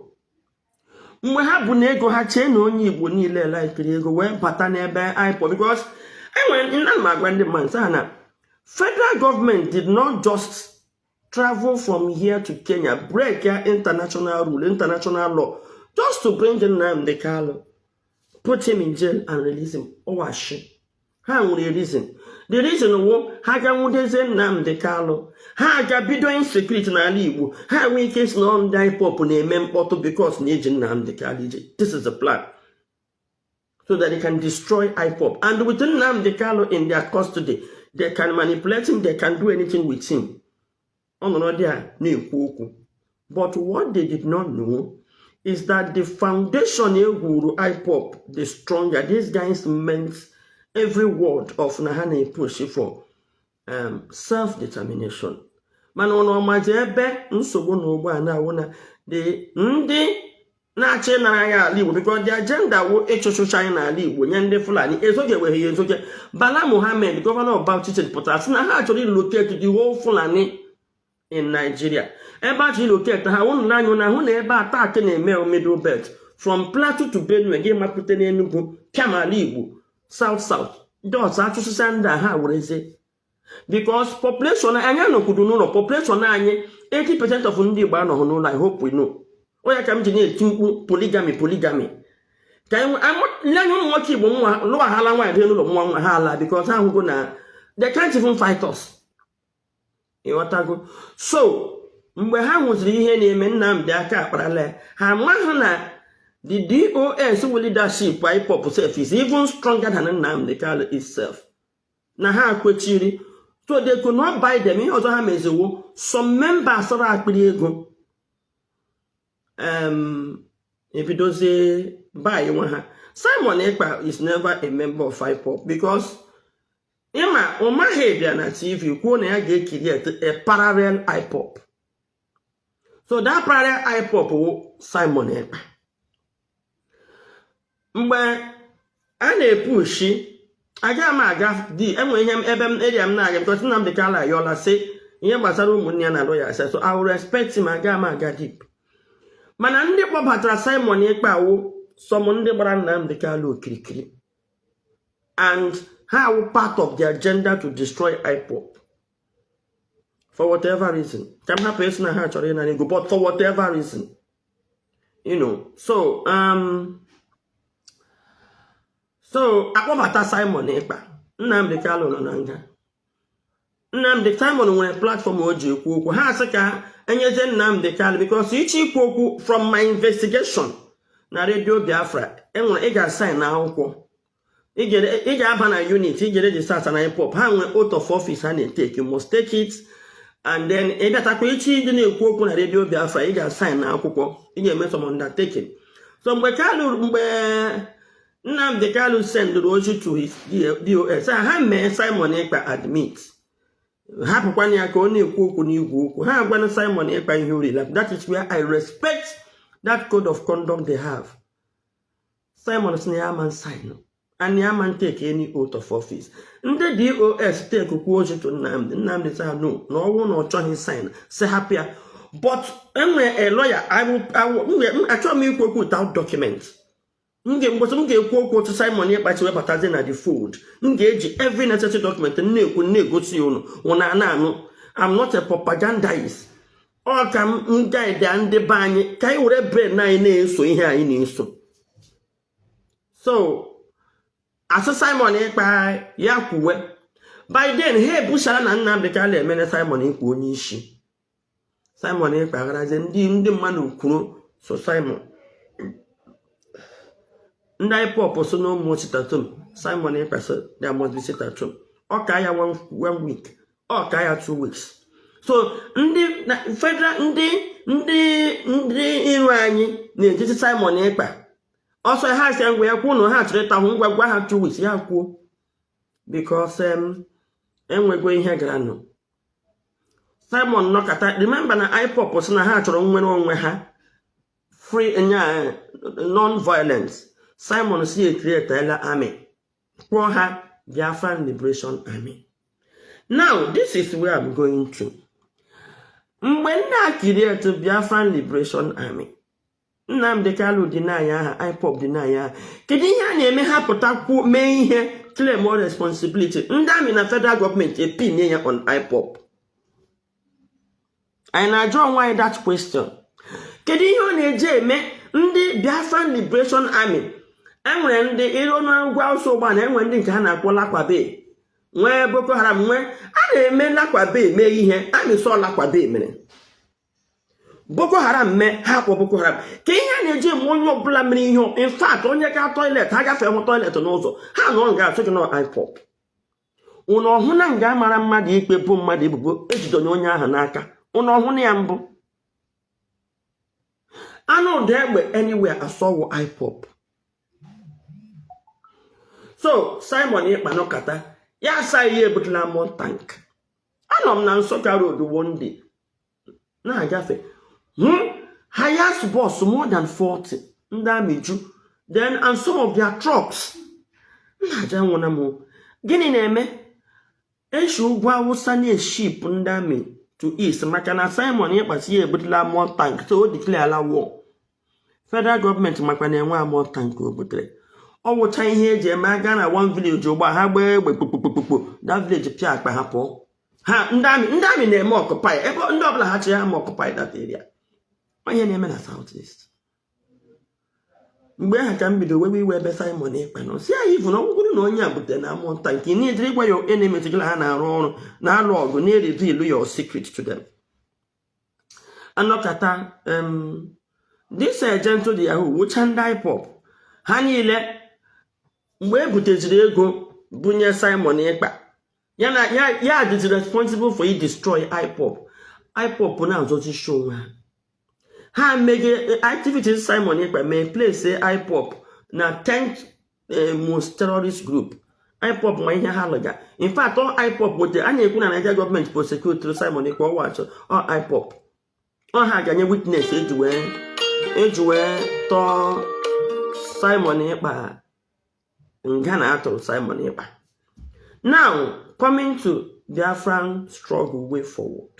mgbe ha bụ na ego ha chee na onye igbo niile laikiri ego wee bata n'ebe IPOB because enwere ana m agwa ndị mmadụ sị ha na federal government did not just travel from here to Kenya break ya international rule international law just to bring Nnamdi Kanu put him in jail and release him ọ wụ ashị ha nwere reason the reason wụ ha ga nwudezie Nnamdi Kalụ ha ga bido insecurity n'ala Igbo ha nwee ike sị na ndị IPOB na-eme mkpọtụ because na eji Nnamdi Kalụ eji this is the plan so that they can destroy IPOB and with Nnamdi Kalụ in their custody they can manipulate him they can do anything with him ọ nọrọ there na-ekwu okwu but what they did not know is that the foundation e gwuru IPOB dị stronger these guys meant every word of na ha na-epush for um, self determination mana unu ọ mazi ebe nsogbu nọ ugbu a na-awụ na the ndị na-achọ ịnara anyị ala igbo because the ajenda wụ ịchụchụcha anyị n'ala igbo nye ndị fulani ezoje weghe ya ezoje bala mohammed gọvanọ bauchi steeti pụtara sị na ha chọrọ ilocate the whole fulani in nigeria ebe a chọrọ ilocate ha unu n'anya na-ahụ na ebe attack na-eme middle belt from plateau to benue gị mapụta n'enugu pịam ala igbo south south ndị ọzọ achụsịsa ndị a ha werezie because population anyị anọkwudo n'ụlọ population anyị 80 percent of ndị Igbo anọghị n'ụlọ anyị hope we know ọ ya ka m ji na-eti mkpu poligami poligami ka nye anya ụmụ nwoke Igbo nwa lụọ ha ala nwaanyị dị n'ụlọ nwa nwa ha ala because ha ahụgo na they can't even fight us ị ghọtago so mgbe ha hụziri ihe na-eme Nnamdi aka akparala ya ha amaghị na the DOS leadership IPOB self is even stronger than Nnamdi Kanu itself na ha kwechiri so they could not buy them ihe ọzọ ha mezi wụ some members sọrọ akpịrị ego ebidozie buywa ha Simon Ekpa is never a member of IPOB because ị ma Umahi bịa na tv kwuo na ya ga-ecreate a parallel IPOB so that parallel IPOB wụ Simon Ekpa mgbe a na-epushi aga m aga deep enwe ihe ebe m eria m na-aga because Nnamdi Kanu ayọla sị ihe gbasara ụmụnne ya na alụ ya ase so I will respect him aga m aga deep mana ndị kpọbatara Simon Ekpa awụ some ndị gbara Nnamdi Kanu okirikiri and ha awụ part of the agenda to destroy IPOB for whatever reason ka m hapụ ịsị na ha chọrọ ịnara ego but for whatever reason you know so um, so akpọbata Simon Ekpa Nnamdi Kanu nọ na nga Nnamdi Simon nwere platform o ji ekwu okwu ha asị ka enyezie Nnamdi Kanu because ị chọọ ikwu okwu from my investigation na redio Biafra enwere ị ga-asaịn akwụkwọ ị ga-aba na unit ị ga-register na IPOB ha nwee oath of office ha na-eteki you must take it and then ị bịatakwa ị chọọ ịdị na-ekwu okwu na redio Biafra ị ga-asaịn akwụkwọ ị ga-eme some undertaking so mgbe Kanu mgbe Nnamdi Kanu sendụrụ ozi to his DOS ha mee Simon Ekpa admit hapụkwana ya ka ọ na-ekwu okwu n'igwe okwu ha agwana Simon Ekpa ihe ọwụla that is where I respect that code of conduct they have Simon sị na ya ama saịnụ and ya ama take any oath of office ndị DOS takekwuo ozi to Nnamdi Nnamdi sị ha no na ọ wụ na ọ chọghị saịnụ sị hapụ ya but enwere a lawyer achọghị m ikwu okwu without document m ga mbọchị m ga-ekwu okwu otu Simon Ekpa si webatazi na the fold m ga-eji every necessary document na-ekwu na-egosi ya ụnụ ụnụ ana-anụ I'm not a propagandist ọ ka m guide ndị be anyị ka anyị were brain anyị na-eso ihe anyị na-eso so a sị Simon Ekpa ya kwuwe by then ha ebusara na Nnamdi Kanu emeela Simon Ekpa onye isi Simon Ekpa agharazie ndị ndị mmadụ kwuru so Simon ndị IPOB sị no more sit at home Simon Ekpa sị you must sit at home ọ ka ya one week ọ ka ya two weeks so ndị federal ndị ndị ndị iro anyị na-ejizi Simon Ekpa ọsọ ha sị ngwa ya kwuo na ha chọrọ ịta ahụhụ ngwa gwa ha two weeks ya kwuo because enwego ihe gara nụ Simon nọkata remember na IPOB sị na ha chọrọ nnwere onwe ha through non-violence Simon sị e createla army kpọọ ha Biafran Liberation Army now this is where I'm going to mgbe a na-ecreate Biafran Liberation Army Nnamdi Kanu dị na ya aha IPOB dị na ya aha kedu ihe a na-eme ha pụta kwuo mee ihe claimuo responsibility ndị amị na federal gọọmenti epinye ya on IPOB anyị na-ajụ onwe anyị that question kedu ihe ọ na-eji eme ndị Biafran Liberation Army enwere ndị ịrụ n'ugwu Awụsa ugbu a na enwere ndị nke ha na-akpọ lakwabe nwee Boko Haram nwee a na-eme lakwabe mee ihe a na-asị ọ lakwabe mere boko haram mee ha akpọọ boko haram kee ihe a na-eji eme onye ọbụla mere ihe infat onye ga toilet ha gafee hụ toilet n'ụzọ ha nọ nga asị gị na IPOB ụnụ ọ hụna nga a mara mmadụ ikpe boo mmadụ ebubo ejidonye onye ahụ n'aka ụnụ ọ hụna ya mbụ a nụ ụda egbe anywhere asị ọ wụ IPOB so Simon Ekpa nọkata ya asị gị ya ebutela armour tank anọ m na Nsukka road one day na-agafe hụ hmm? Hiace bus more than 40 ndị amị ju then and some of their trucks na-ajụ onwe m gịnị na-eme eshi ugwu Awụsa na-eship ndị amị to east maka na Simon Ekpa sị ya ebutela armour tank so o declarela war federal gọọmenti makwa na enwe armour tank o butere ọ wụcha ihe eji eme aga na one village ugbu a gbaa egbe kpokpokpokpo na village pịa akpa ha pụọ ha ndị amị ndị amị na-eme occupy ebe ndị ọbụla ha chịrị ha ma occupy that area ọ ihe na-eme na south east mgbe ahụ ka m bido wewe iwe ebe Simon Ekpa nọ sị even na ọ wụrụ na onye a butere armour tank na ejiri gwa ya enemetụgala ha na-arụ ọrụ na-alụ ọgụ na-ereveal your secret to them anọkata this Gentle de Yahoo wụcha ndị IPOB ha niile mgbe e buteziri ego bunye Simon Ekpa ya dịzi responsible for i destroy IPOB IPOB na-azọzi ishi onwe ha ha mege activities Simon Ekpa mee place IPOB na 10th eh, most terrorist group IPOB ma ihe ha lụga in fact ọ IPOB wete a na-ekwu na Naịjirịa gọọmenti prosecutere Simon Ekpa ọ wụcha ọ IPOB ọ ha ga-enye witness eji wee eji wee tụọ Simon Ekpa nga na a tụrụ Simon Ekpa now coming to Biafran struggle way forward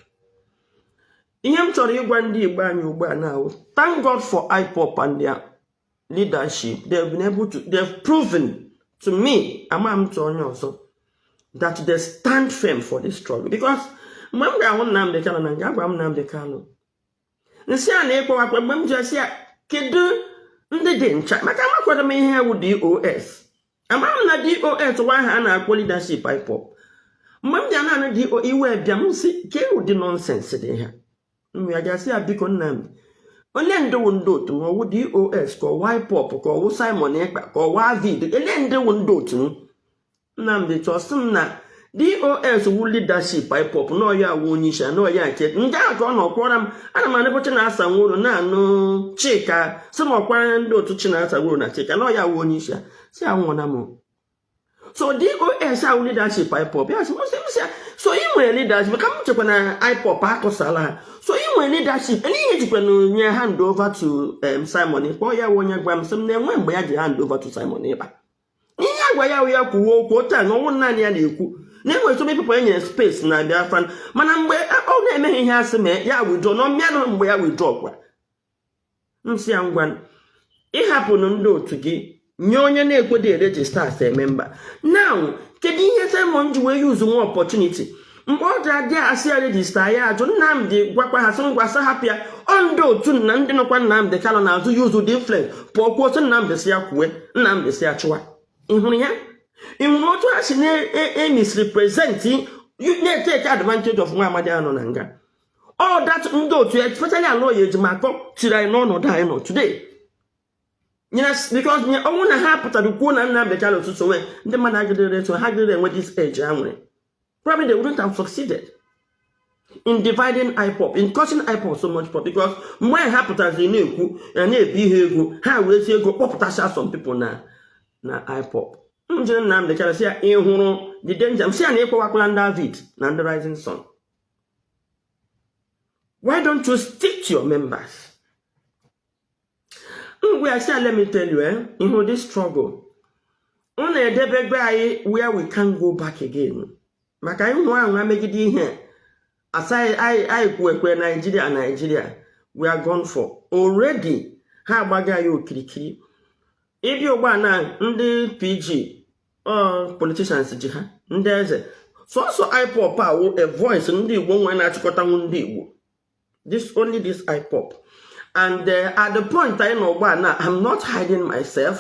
ihe m chọrọ ịgwa ndị Igbo anyị ugbu a na wụ thank God for IPOB and their leadership they've been able to they've proven to me ama m tụ onye ọzọ that they stand firm for this struggle because mgbe m ga-ahụ Nnamdi Kanu na nga agwa m Nnamdi Kanu nsị a na-ekpowakwa mgbe m ji asị ya kedu ndị dị in charge maka amakwara m ihe wụ DOS ama m na DOS wụ ha a na-akpọ leadership IPOB mgbe m ji ana-anụ DOS iwe bịa m si ka ewu dị nonsense dị ha nwa ya gasị ya biko nna m ele ndị wụ ndị otu m ọwụ dos ka ọwụ ipob ka ọwụ simon ekpa ka ọwụ avid ele ndị wụ ndị otu m nnamdị chọọ sị m na dos wụ leadership ipob na ọ ya wụ onye isi na ọya nke ndị ahụ ka ọ nọkwara m ana m anụbu chinasa nworu na-anụ chika sị m ọkwara ndị otu chinasa nworu na chika na ọ ya wụ onye isi si anwụọna m so dos wụ leadership ipob ya sị ya so ị nwere leadership ka m chekwa na ipob akụsala ha so ị nwere leadership n'ihe jikwa na onye hand over to um, simon ekpa ya wee gwa m sị m na-enwe mgbe ya ji hand over to simon ekpa ihe agwa ya ya kwuwe okwu otu a na ọ wụ naanị ya na-ekwu na enwere some people enye space na biafran mana mgbe ọ na-emeghị ihe asị mee ya withdraw na ọmịanụ mgbe ya withdraw kwa m sị ya ngwa ịhapụnụ ndị otu gị nye onye na-ekwedị eregister as a member now kedu ihe Simon ji wee use nwa opportunity mgbe ọ dịra dị asị ya register ya ajụ Nnamdị gwakwa ha sị ngwa sị hapụ ya ọ ndị otu na ndị nọkwa Nnamdị Kanu n'azụ use their influence pụọ kwuo sị Nnamdị sị ya kwue Nnamdị sị ya chụwa ị hụrụ ya ị hụrụ otu ha si na-emisrepresent na-etake advantage of nwa amadi a nọ na nga all that ndị otu especially Aloy Ejimakor tiri anyị n'ọnọdụ anyị nọ today because ọ wụ na ha pụtara kwuo na nna mbecha na ụtụtụ nwee ndị mmadụ agịdịrị eso ha gịdịrị enwe this edge ha nwere probably they wouldn't have succeeded in dividing IPOB in causing IPOB so much because mgbe anyị ha pụtaziri na-ekwu na na-ebi ihe ego ha wee ji ego kpọpụtasịa some people na na IPOB m jiri nna m dechara si ya ị hụrụ the danger m sị ya na ịkpọwakwala ndị AVID na ndị Rising Sun why don't you stick to your members m wee sị ya let me tell you eh ị hụ the struggle ụnwa edebego anyị where we can't go back again maka anyị nwa ahụ megide ihe a sị anyị kwuo ekwe Nigeria Nigeria we are gone for already ha agbago anyị okirikiri ị bịa ugbuna ndị pg politicians ji ha ndị eze sọsọ ipob wụ a voice ndị igbo nwe na-achịkọtanwu ndị igbo this only this ipob and uh, at the point anyị nọ ugbuna i'm not hiding myself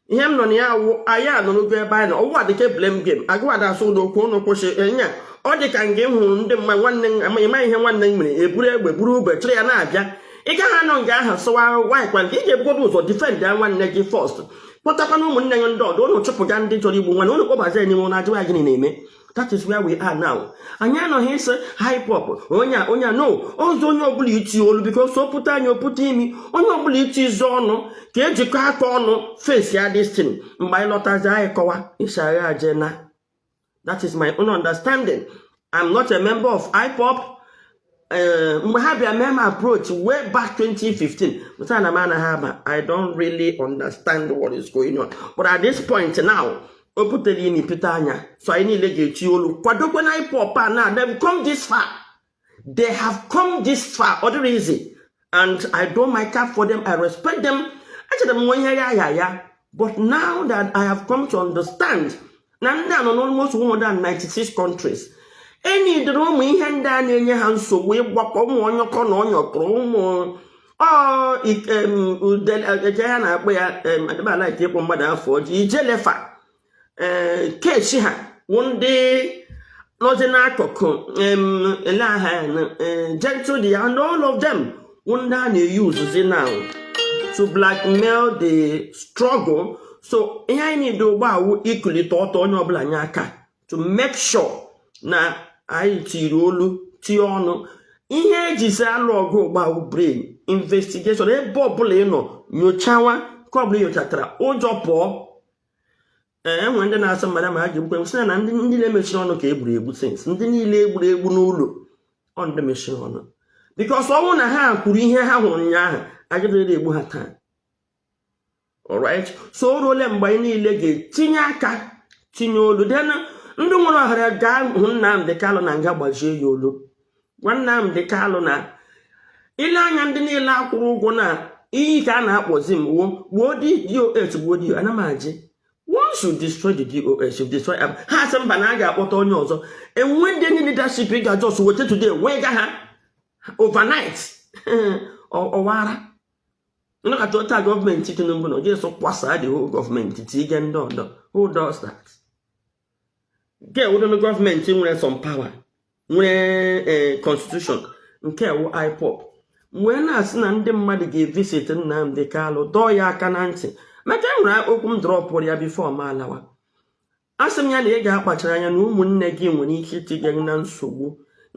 ihe m nọ na ya wụ anyị anọrugo ebe anyị na ọwụ adịka blame game agụwada asụ ụdọ okwu unu kwụsị enya ọ dị ka nga ị hụrụ ndị mma nwanne m ihe nwanne m mere eburu egbe buru ube chịrị ya na-abịa ị gaghị anọ nga ahụ sụwa why kwanụ ị ga-ebugodo ụzọ difend ya nwanne gị fọst kpọtakwana ụmụnne ya ndị ọdọ ụnụ chụpụga ndị chọrọ igbu nwanne ụnụ kpọbazi enyi ụra ajụwa gịnị na-eme that is where we are now anyị anọghị ịsị IPOB onye onye no ọzọ onye ọbụla iti olu bikos ọ pụta anya ọ pụta imi onye ọbụla iti izu ọnụ ka ejikọ aka ọnụ fesi ya distin mgbe anyị lọtazi anyị kọwa ịsagha aje na that is my own understanding i'm not a member of IPOB eh, mgbe ha bịa mee m approach way back 2015 m sị ha na m anaghị aba i don't really understand what is going on but at this point now o butere imi pete anya so anyị niile ga-echi olu kwadokwe na IPOB a na dem come this far they have come this far ọ dịghị izi and i doff my cap for them i respect them echere m wụ ihe ya ya ya but now that i have come to understand na ndị a nọ n'almost 196 countries enyi dịrị ụmụ ihe ndị a na-enye ha nsogbu ịgbakọ ụmụ ọnyọkọ na ọnyọkọrọ ụmụ ije ya na-akpọ ya adịbala ike ịkpọ mmadụ afa ọjọọ Ijele fa ee kechi ha wụ ndị nọzi n'akụkụ em, olee aha ya na eh, Gentle de Yahoo and all of them wụ ndị a na-eyuzuzi now to blackmail the struggle so ihe anyị niile ugbu a wụ ikulite ọtọ onye ọbụla nye aka to make sure na anyị tiri olu tie ọnụ ihe ejizi alụ ọgụ ugbu a wụ brain investigation ebe ọbụla ị nọ nyochawa nke ọbụla ị nyochatara ụjọ pụọ enwe ndị na-asị mmadụ ma ha ga-egbu sị na ndị niile mechiri ọnụ ka egburu egbu sins ndị niile egburu egbu n'ụlọ ọ ndị mechiri ọnụ bikos ọ wụ na ha kwuru ihe ha hụrụ ụnyaahụ agaghịrị egbu ha taa alright so o ruole mgbe anyị niile ga-etinye aka tinye olu den ndị nwere ohere gaa hụ Nnamdi Kanu na nga gbajie ya olu gwa Nnamdi Kalụ na ile anya ndị niile akwụrụ ụgwọ na iyi ka a na-akpọzi m wuo gbuo DOS gbuo DOS ana m ajị once you destroy the DOS you destroy am ha asị mba na a ga-akpọta onye ọzọ enwe ndị ndị leadership ị ga-ajọs weta today wee ga ha overnight ọ wụrụ nnọkọta ụta gọọmenti Tinubu na oje so kwasaa the whole gọọmenti tinye ndị ọdọ who does that nke a wụdị gọọmenti nwere some power nwere eh, constitution nke a wụ IPOB m wee na-asị na ndị mmadụ ga-evisit Nnamdi Kanu dọọ ya aka na ntị maka e nwere okwu m drọpụụrụ ya bifo m alawa a sị m ya na ị ga-akpachara anya na ụmụnne gị nwere ike itinye gị na nsogbu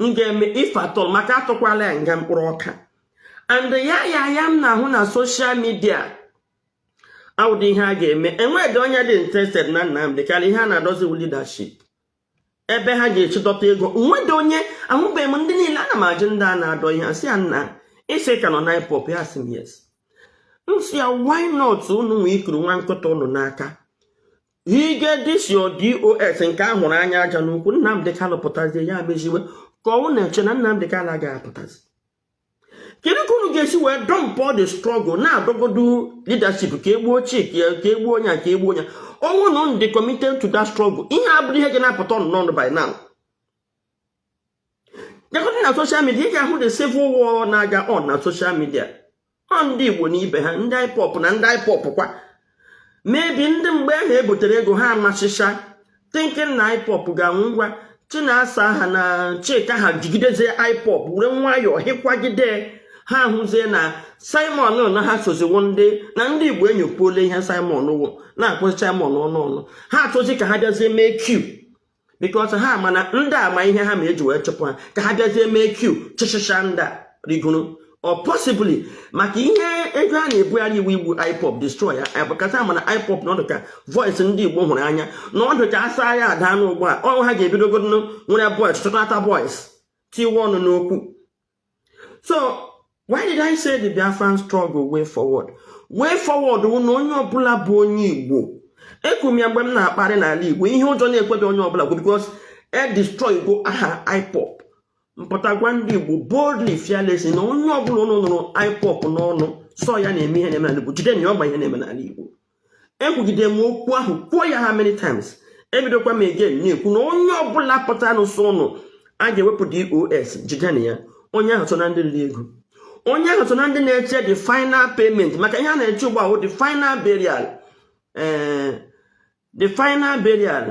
m ga-eme ife atọl maka atụkwala ya nga mkpụrụ ọka and ya ya ya m na-ahụ na soshal midia awụdị ihe a ga-eme enweghị onye dị interested na Nnamdị Kalụ ihe a na-adọzi wụ leadership ebe ha ga-esi dọta ego nwedị onye ahụbeghị m ndị niile ana m ajụ ndị a na-adọ ihe asị ya nna ịsị ka nọ na ipop ya sị m yes m sị ya why not unu nwee ikuru nwa nkụta unu n'aka ịga destroy dos nke a hụrụ anya aja n'ukwu Nnamdị Kalụ pụtazie ya meziwe ka ọ wụ na-eche na Nnamdị Kalụ agaghị apụtazi kedu ka unu ga-esi wee dumpụọ the struggle na-adọgodu leadership ka e gbuo ochie ka e gbuo onye a ka e gbuo onye a ọ wụ na unu dị committed to that struggle ihe a bụrụ ihe ga na-apụta ọnụ n'ọnụ by now jegodu na social media ị ga-ahụ the civil war na-aga on na social media ọ ndị igbo na ibe ha ndị ipop na ndị ipop kwa maybe ndị mgbe ahụ ebutere ego ha anasịcha thinking na ipop ga-anwụ ngwa chinasa ha na chika ha jigidezie ipop were nwayọọ hịkwagide ha hụzie na simon na ha soziwo ndị na ndị igbo enyopuola ihe simon wụ na-akọzi simon ọnụ ọnụ ha achọzi ka ha bịazie mee coup because ha ma na ndị a ma ihe ha ma e ji wee chụpụ ha ka ha bịazie mee coup chịchịcha ndị a rigoro or possibly maka ihe ego a na-ebugharị wụ igbu ipop destroy ya because a ma na ipop na ọ dụ ka voice ndị igbo hụrụ anya na ọ dụ ka asa ya ada n'ugbu a ọ ha ga-ebidogodo nwere voice chọtata voice tiiwe ọnụ n'okwu so why did i say the biafran struggle way forward way forward wụ na onye ọbụla bụ onye igbo ekwu m ya mgbe m na-akparị n'ala igbo ihe ụjọ na-ekwedu onye ọbụla kwuo because e destroy go aha ipop m pụta gwa ndị igbo boldly fearlessly na onye ọbụla unu nụrụ ipop n'ọnụ sị ọ ya na-eme ihe na-eme n'ala igbo jidenụ ya ọgba ihe na-eme n'ala igbo ekwugide m okwu ahụ kwuo ya how many times ebidokwa m again na-ekwu na onye ọbụla pụtanụ sị unu a ga-ewepụ dos jidenụ ya onye ahụ so na ndị riri ego onye ahụ so na ndị na-eche the final payment maka ihe a na-eche ugbu a wụ the final burial eh, the final burial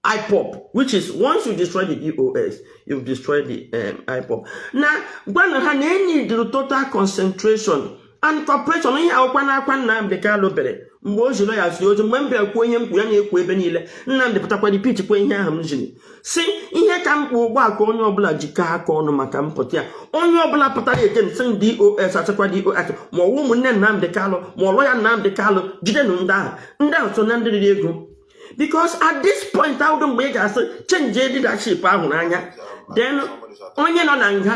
IPOP, which is once you destroy the DOS, you destroy the um, IPOP. Now, gwanụ ha na e needịrị total concentration and cooperation ihe a wụkwanụ akwa Nnamdị Kalụ bere mgbe o jiri ya zi ozi mgbe m bịara kwuo ihe m kwuru ya na-ekwu ebe niile Nnamdị pụtakwa repeat kwuo ihe ahụ m jiri sị ihe ka mkpa ugbu a ka onye ọbụla jikọ aka ọnụ maka mpụta ya onye ọbụla pụtara against dos achịkwa dos ma ọ wụ ụmụnne Nnamdị Kalụ ma ọ lawyer Nnamdị Kalụ jidenụ ndị ahụ ndị ahụ so na ndị riri ego because at this point awụdụ mgbe ị ga-asị change leadership a hụrụ anya when onye nọ na nga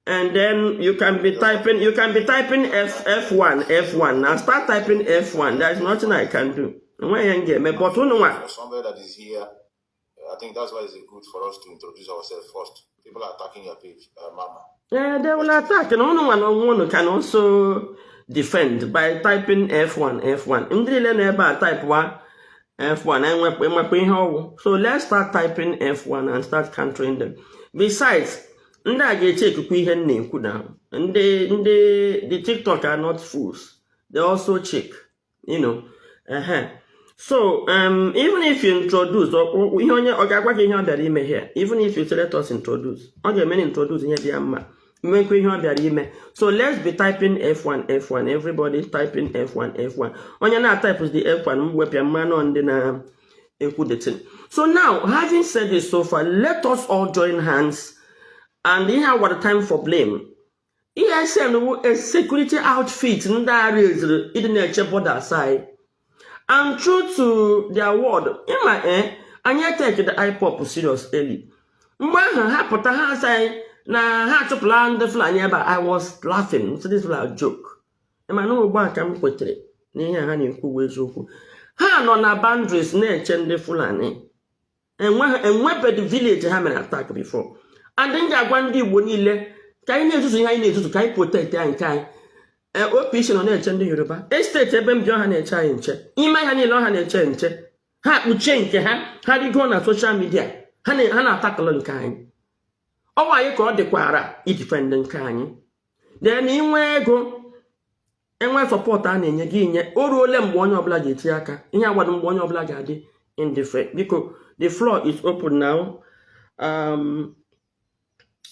and then you can be typing you can be typing f f1 f1 now start typing f1 there is nothing i can do enweghị ihe m ga-eme but unu nwa I think that's why it's good for us to introduce ourselves first. People are attacking your page, uh, Mama. Yeah, they will attack. Unu onwe unu can also defend by typing F1, F1. Ndị niile na ebe a type F1 enwekwa enwekwa ihe ọ wụ so let's start typing F1 and start countering them besides ndị a ga-echekwa ihe m na-ekwu na ndị ndị TikTok are not fools they also check you know uh-huh. so um, even if you introduce ihe onye ọ ga-agwa gị ihe ọ bịara ime here even if you say let us introduce ọ ga-eme introduce ihe dị ya mma mekwa ihe ọ bịara ime so let's be typing f1 f1 everybody typing f1 f1 onye na-atype the f1 m wepụ ya m manụ ndị na-ekwu the thing so now having said this so far let us all join hands and ihe awara time for blame ESN wụ a security outfit ndị a raisiri ịdị na-eche borders anyị and true to their word ịma e anyị etekidị IPOB serious early mgbe ahụ ha pụta ha asị anyị na ha achụpụla ndị Fulani ebe a I was laughing so this was a joke ịma na ugbu a ka m kwetere n'ihe ha na-ekwu bụ eziokwu ha nọ na boundaries na-eche ndị Fulani enwebedị village ha mere attack before and m ga-agwa ndị igbo niile ka anyị na-ezuzu ihe anyị na-ezuzu ka anyị protect ya nke anyị e, OPC nọ na-eche ndị yoruba estate ebe m bi ọ ha na-eche anyị nche ime ha niile ọ ha na-eche nche ha kpuchie nke ha ha rigo na social media ha na-attack nke anyị ọ wụ anyị ka ọ dịkwara ịdefend nke anyị then inwe ego enwe support a na-enye gị nye o ruole mgbe onye ọbụla ga-eti aka ihe agwado mgbe onye ọbụla ga-adị indifferent biko the floor is open now um,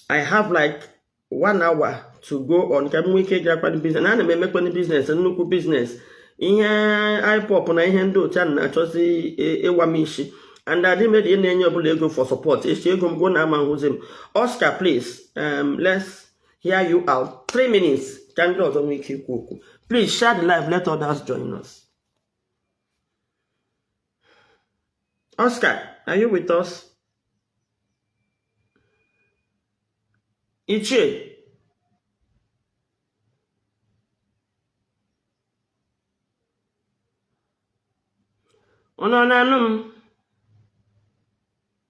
I have like one hour to go on ka m nwee ike ịgakwado business na ana m emekwanụ business nnukwu business ihe IPOB na ihe ndị otu a na-achọzi ịwa m isi and adị m na-ana onye ọbụla ego for support echi ego m gwụ unu ama ahụzi m Oscar please um, let's hear you out three minutes ka ndị ọzọ nwee ike ikwu okwu please share the live let others join us Oscar are you with us ichie unu na-anụ m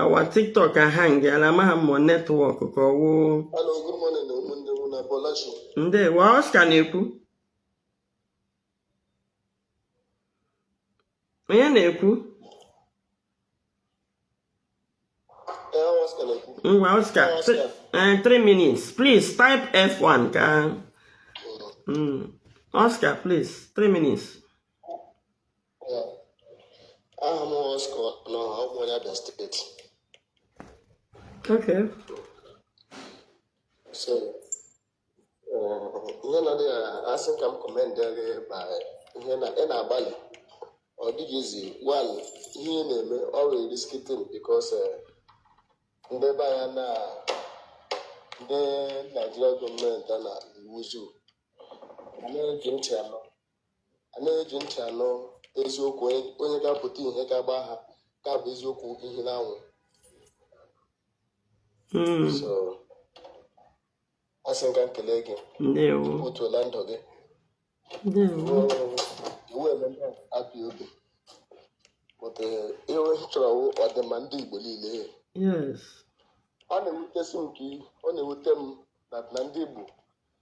ọ wụ TikTok ahangịala amaghị m network ka ọ wụ ndewo Oscar na-ekwu onye na-ekwu ngwa Oscar 3 minutes please type f1 ka Oscar mm. please 3 minutes aha m Oscar abụ m onye Abia steeti Okay. so ihe na dị asị m ka m commend gị ma ihe na ị na-agbalị ọ dịghị easy wan ihe ị na-eme ọ wụ risky thing because ndị be anyị na ndị Nigeria government a na iwuzu anaghị eji ntị anụ anaghị eji ntị anụ eziokwu onye- onye ga-apụta ihe ga-agba ha ka bụ eziokwu ihe n'anwụ Mm, so asị m ka m kelee gị ndewo otuola ndụ gị ndewo ruo iwu eme ndị IPOB but eh, ihe onye chọrọ wụ ọdịmma ndị igbo niile yes ọ na-ewutesi m ike ọ na-ewute m na na ndị igbo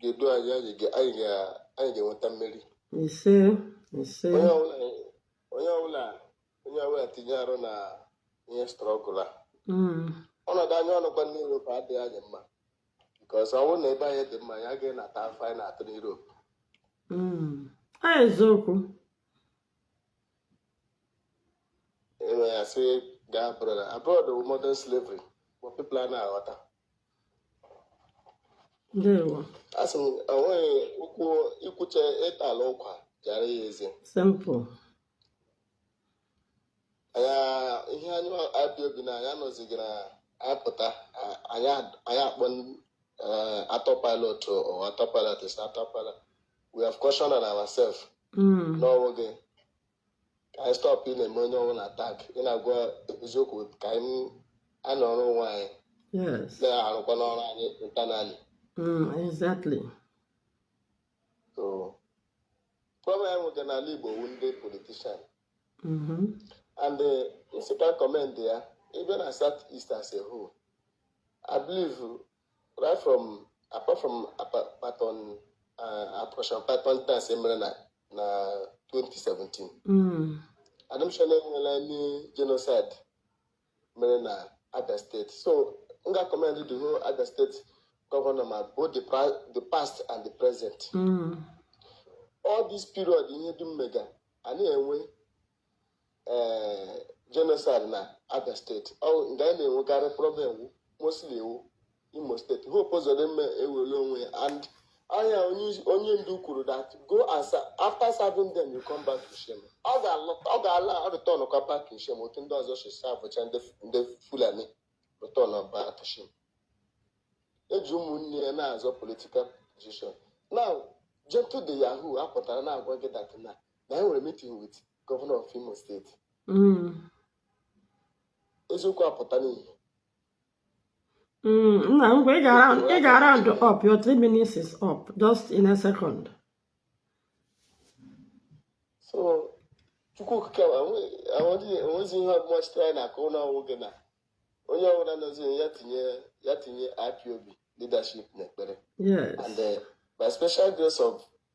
ga-edu anyị anyị ga-enweta mmeri ise ise onye ọbụla onye ọbụla tinye arụ na ihe struggle a hmm. ọnọdụ anyị nọkwa n'ime Europe adịghị anyị mma nke ọzọ ọ bụrụ na ebe anyị dị mma anyị agaghị na-ata afụfụ anyị na-ata n'Europe hmm. eziokwu enwe ya sị gaa abroad abroad modern slavery ma people anaghị aghọta asị m enweghị ụkwụ ikwuche ịtala ụkwa jara ya eze ya ihe anyị abịa obi na anyị anọzighị na-apụta anyị akpọ eh, Autopilot or Autopilot is Autopilot we have cautioned ourselves hmm. n'onwe gị ka anyị stop ị na-eme onye ọbụla attack ị na-agwa eziokwu ka anyị nọrọ onwe anyị yes na-arụkwa ọrụ anyị internally mm, exactly so problem anyị nweka n'ala igbo wụ ndị politician Mhm. and eh, m sịkwa commend ya ị bịa na south east as a whole i believe Apart from apart from Python uh, Operation Python Dance emere na na 2017. Mm. Adịghị m sure na enweela any genocide mere na Abia State. So m ga-commend the whole Abia State governor ma both the, the past and the present. Mm. All this period ihe dum mega anaghị enwe ee genocide na abia steeti nga anyị na-enwekarị problem wụ mostly ọ wụ imo steeti hope ụzọdịmma ewere onwe ya and anya onye isi- onye ndu kwuru that go and sa- after serving them you come back to shame ọ ga-alọta ọ ga-ala return kwa back to shame otu ndị ọzọ si servecha ndị ndị fulani return ọ back to shame eji ụmụnne ya na-azọ political position now gentle de Yahoo apụtara na-agwa gị that na na anyị nwere meeting with gọvanọ of Imo steeti mm. eziokwu apụta n'ihe mm, nna ngwa ị ga-round up your three minutes is up just in a second so chukwu okike enwezi ihe ọbụla sitere anyị na-akụ ụlọ nwoke na onye ọbụla nọzi ya tinye ya tinye IPOB leadership n'ekpere and eh, by special grace of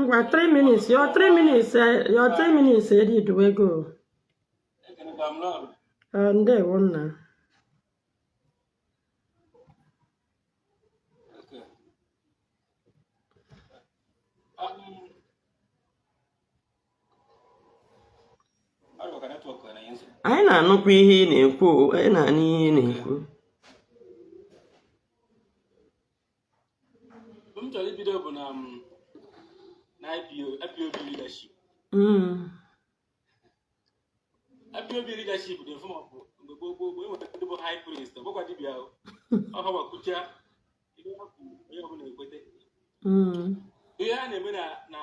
ngwa 3 minutes your 3 minutes eh, your 3 minutes eruduwego eh, ndewo nna anyị na-anụkwa ihe ị na-ekwu anyị na-anụ ihe ị na-ekwu m chọrọ ibido bụ na um, na IPO IPOB leadership Mm. IPOB leadership dị mfe maọbụ mgbe gboo gboo gboo enwere ndị bụ high priest ọ bụkwa dibịa ahụ ọ ha kwucha ihe ha kwuru onye ọbụla ekwete Mm. ihe a na-eme na na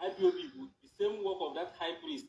IPOB bụ the same work of that high priest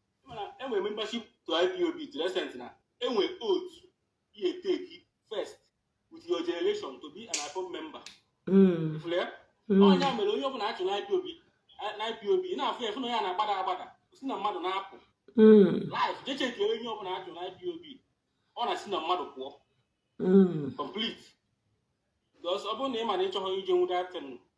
mana enwe membership to ipob to the extent na enwe oath you dey take first with your generation to be an ipob member Mm. ifụrụ ya Mm. onye a mere onye ọbụla achụ na ipob na ipob ị na-afụ ya fụ na ya na-agbada agbada si na mmadụ na-apụ Mm. life je chekere onye ọbụla achụ na ipob ọ na-si na mmadụ pụọ Mm. complete because ọ bụrụ na ị ma na ị chọghị ije nwụda ten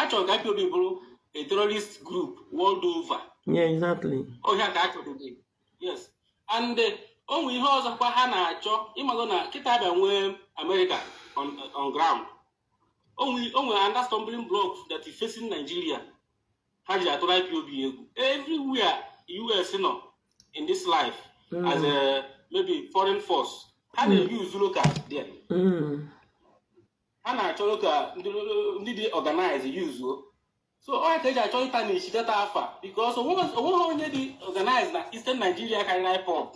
achọrọ ka IPOB bụrụ a terrorist group world over. Yeah, exactly. Ọ ihe a ka achọrọ gị. Yes. And eh, o nwere ihe ọzọ kwa ha na-achọ ịmago na kịta abịa nwee America on, on ground. O nwere another stumbling block that is facing Nigeria. ha ji atụrụ ipob egwu everywhere us nọ in this life mm. as a maybe foreign force ha mm. na-use local there mm. ha na-achọ local ndị dị organize yuzuo so ọ ya ka eji achọ ịta na isi that afa because onweghị onye dị organize na eastern nigeria karịrị ipob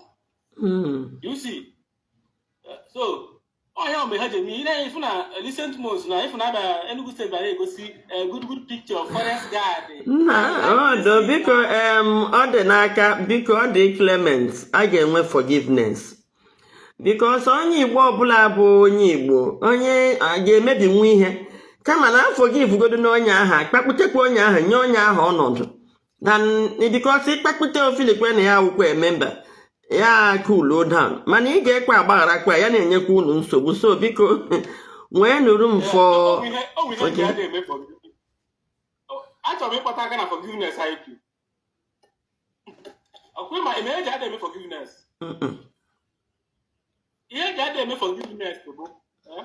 you see eh, so ọ ihe a mere ha ji eme ihe ị na-afụ na recent months na ifu na Abia Enugu steeti bịara egosi eh, good good picture of forest guard nna ọdụ biko em, Ọdịnaka biko ọ dị clement a ga-enwe forgiveness because onye igbo ọbụla bụ onye igbo onye a ga-emebinwu ihe kama na a forgive godinụ onye ahụ akpakputekwa onye ahụ nye onye ahụ ọnọdụ because ịkpakpụta ọ filikwa na ya wụkwa member ya akulu down mana ị ga-ekwe agbaghara kwa ya na-enyekwa unu nsogbu so biko nweenụ room for achọrọ m ịkpọta aka na forgiveness anyị kwu ọkwa ma eme eji ada eme forgiveness ihe eji ada eme forgiveness bụ eh?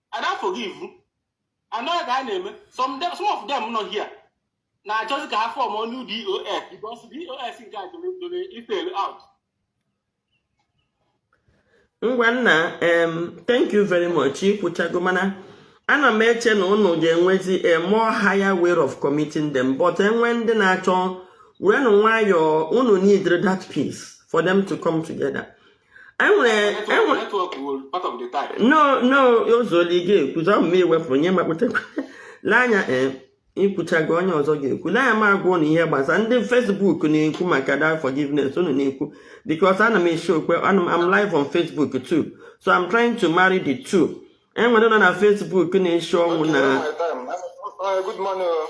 I don't forgive. I know that name. Some them, some of them not here. Now just can have form on new DOS because DOS in guys if they out. Ngwanna, um, thank you very much. Ikwuchagomana. Ana m eche na unu ga-enwezi a more higher way of committing them but enwe ndị na-achọ werenụ nwayọọ unu need that peace for them to come together. n'ozuoli gị ekwuzi ọ ma iwepụ nye makpụtakwa n'anya eh, ikwuchago onye ọzọ ga-ekwu na ya m agwa nụ ihe gbasa ndị fesbuk na-ekwu maka that forgiveness unu na-ekwu because ana m eshi okwe ana m am live on facebook too so I'm trying to marry the two enwere ndị nọ na Facebook na-eshi ọ wụ na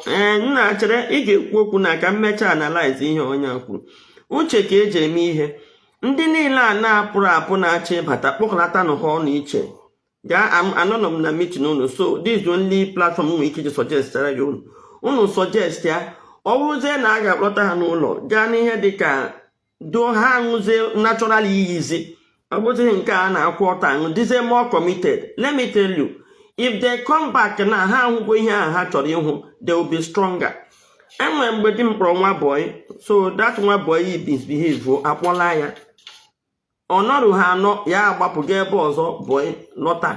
ee eh, nna chere ị ga-ekwu okwu nna ka m mechaa analize ihe onye a kwuru uche ka eji eme ihe ndị niile a na-apụrụ apụ na-achọ ịbata kpọkọlatanụ ha ọnụ iche gaa anọnọ m na mitin unu so this only platform m nwere ike iji sọjestara unu unu sọjest ya ọ bụrụzie na a ga-akpọta ha n'ụlọ gaa n'ihe dị ka do ha aṅụzie natural iyizi ọ bụzighị nke a na-akwụ ọtọ aṅụ dịzie more committed let me tell you if they come back na ha ahụgo ihe ahụ ha chọrọ ịhụ they will be stronger enwere mgbe di m kpọrọ nwa bọyị so dat nwa bọyị misbehave akpọla ya ọ nọrụ ha anọ ya agbapụ gaa ebe ọzọ bọyị lọta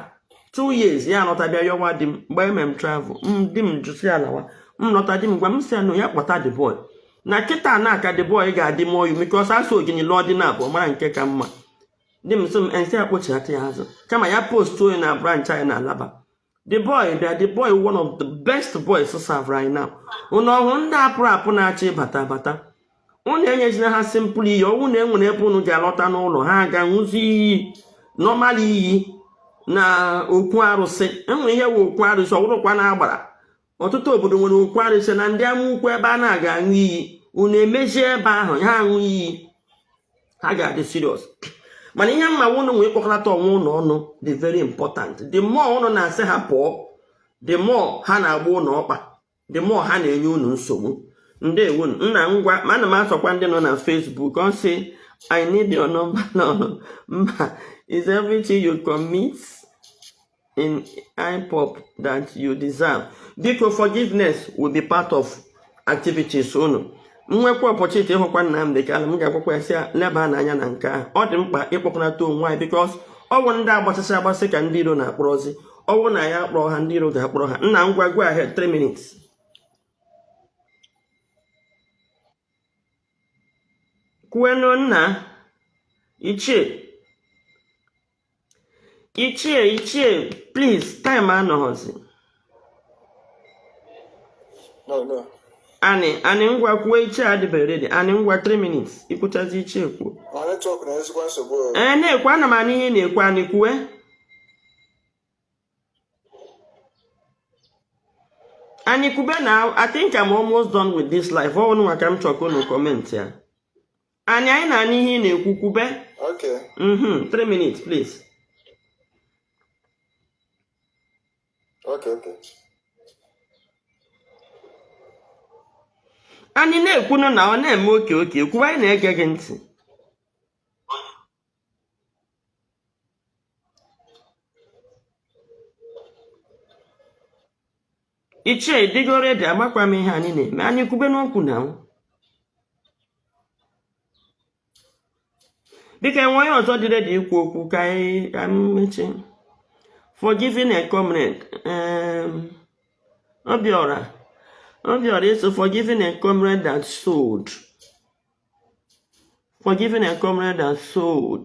two years ya lọta bịa yọwa di m mgbe m mere travel di m jụsịa ọ lawa m lọta di m gwa m sị na ya akpọta the boy na kịta ka the boy ga-adị mụọ yu because asị ogori lụọ di na abụọ mara nke ka mma di m sị m m sị akpọchighata ya azụ kama ya postuo ya na branch anyị na Alaba the boy bịa the boy one of the best boys serve right now unu ọhụụ ndị apụrụ apụ na-achọ ịbata abata unu enyezina ha simpụl iyi ọ wụ na enwere ebe unu ga-alọta n'ụlọ ha aga ṅụzi iyi nọmal iyi na okwu arụsị enwere ihe wụ okwu arụsị ọwụrụkwa na agbara ọtụtụ obodo nwere okwu arụsị na ndị ama ukwu ebe a na-aga aṅụ iyi unu emezie ebe ahụ ha aṅụ iyi ha ga-adị siriọs mana ihe m ma wụ unu nwee ịkpọkọlata onwe unu ọnụ dị very important the more unu na-asị ha pụọ the more ha na-agba unu ọkpa the more ha na-enye unu nsogbu ndeewo nna ngwa ma ana m asọkwa ndị nọ na Facebook ọ sị I need your number no mba is everything you commit in IPOB that you deserve. Biko forgiveness will be part of activities unu. M nwekwa opportunity ịhụkwa Nnamdị Kanu m ga-agwakwa ya sị ya lebaa anya na nke ahụ ọ dị mkpa ịkpọkọnata onwe anyị bikos ọ wụ ndị agbachasị agbasị ka ndị iro na-akpọrọzi ọ wụrụ na ya akpọrọ ha ndị iro ga-akpọrọ ha nna ngwa go ahead 3 minutes kwuenu nna ichie ichie ichie please time anọghọzi anị anị ngwa kwuo ichie adịbe ready anị ngwa 3 minutes ikwuchazi ichie kwuo ee na-ekwu ana m anụ ihe ị na-ekwu anị kwue anyị kwube na I think I'm almost done with this live ngwa ka m chọkwa unu comment ya Anyị anyị na-anụ ihe ị na-ekwu kwube. Okay. Mm-hmm. Three minutes, please. Okay, okay. Anyị na-ekwunu na ọ na-eme okay okay kwube anyị na-ege gị ntị. ichie ị dịgo ready amakwa m ihe anyị na-eme anyị kwube n'okwu na anwụ biko e nwee onye ọzọ dị ready ikwu okwu ka anyị mechie forgiving a comrade um, obiọra obiọra iso forgiving a comrade that sold forgiving a comrade that sold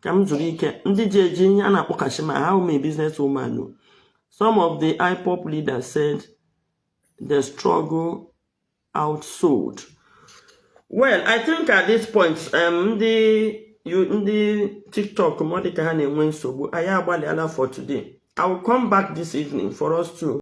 ka m zuru ike ndị ji eji ihe a na-akpọkashi m aha how many business woman know some of the ipob leaders said the struggle outsold well i think at this point um, ndị ndị tiktok m ọ dị ka ha na-enwe nsogbu anyị agbalịala for today i will come back this evening for us to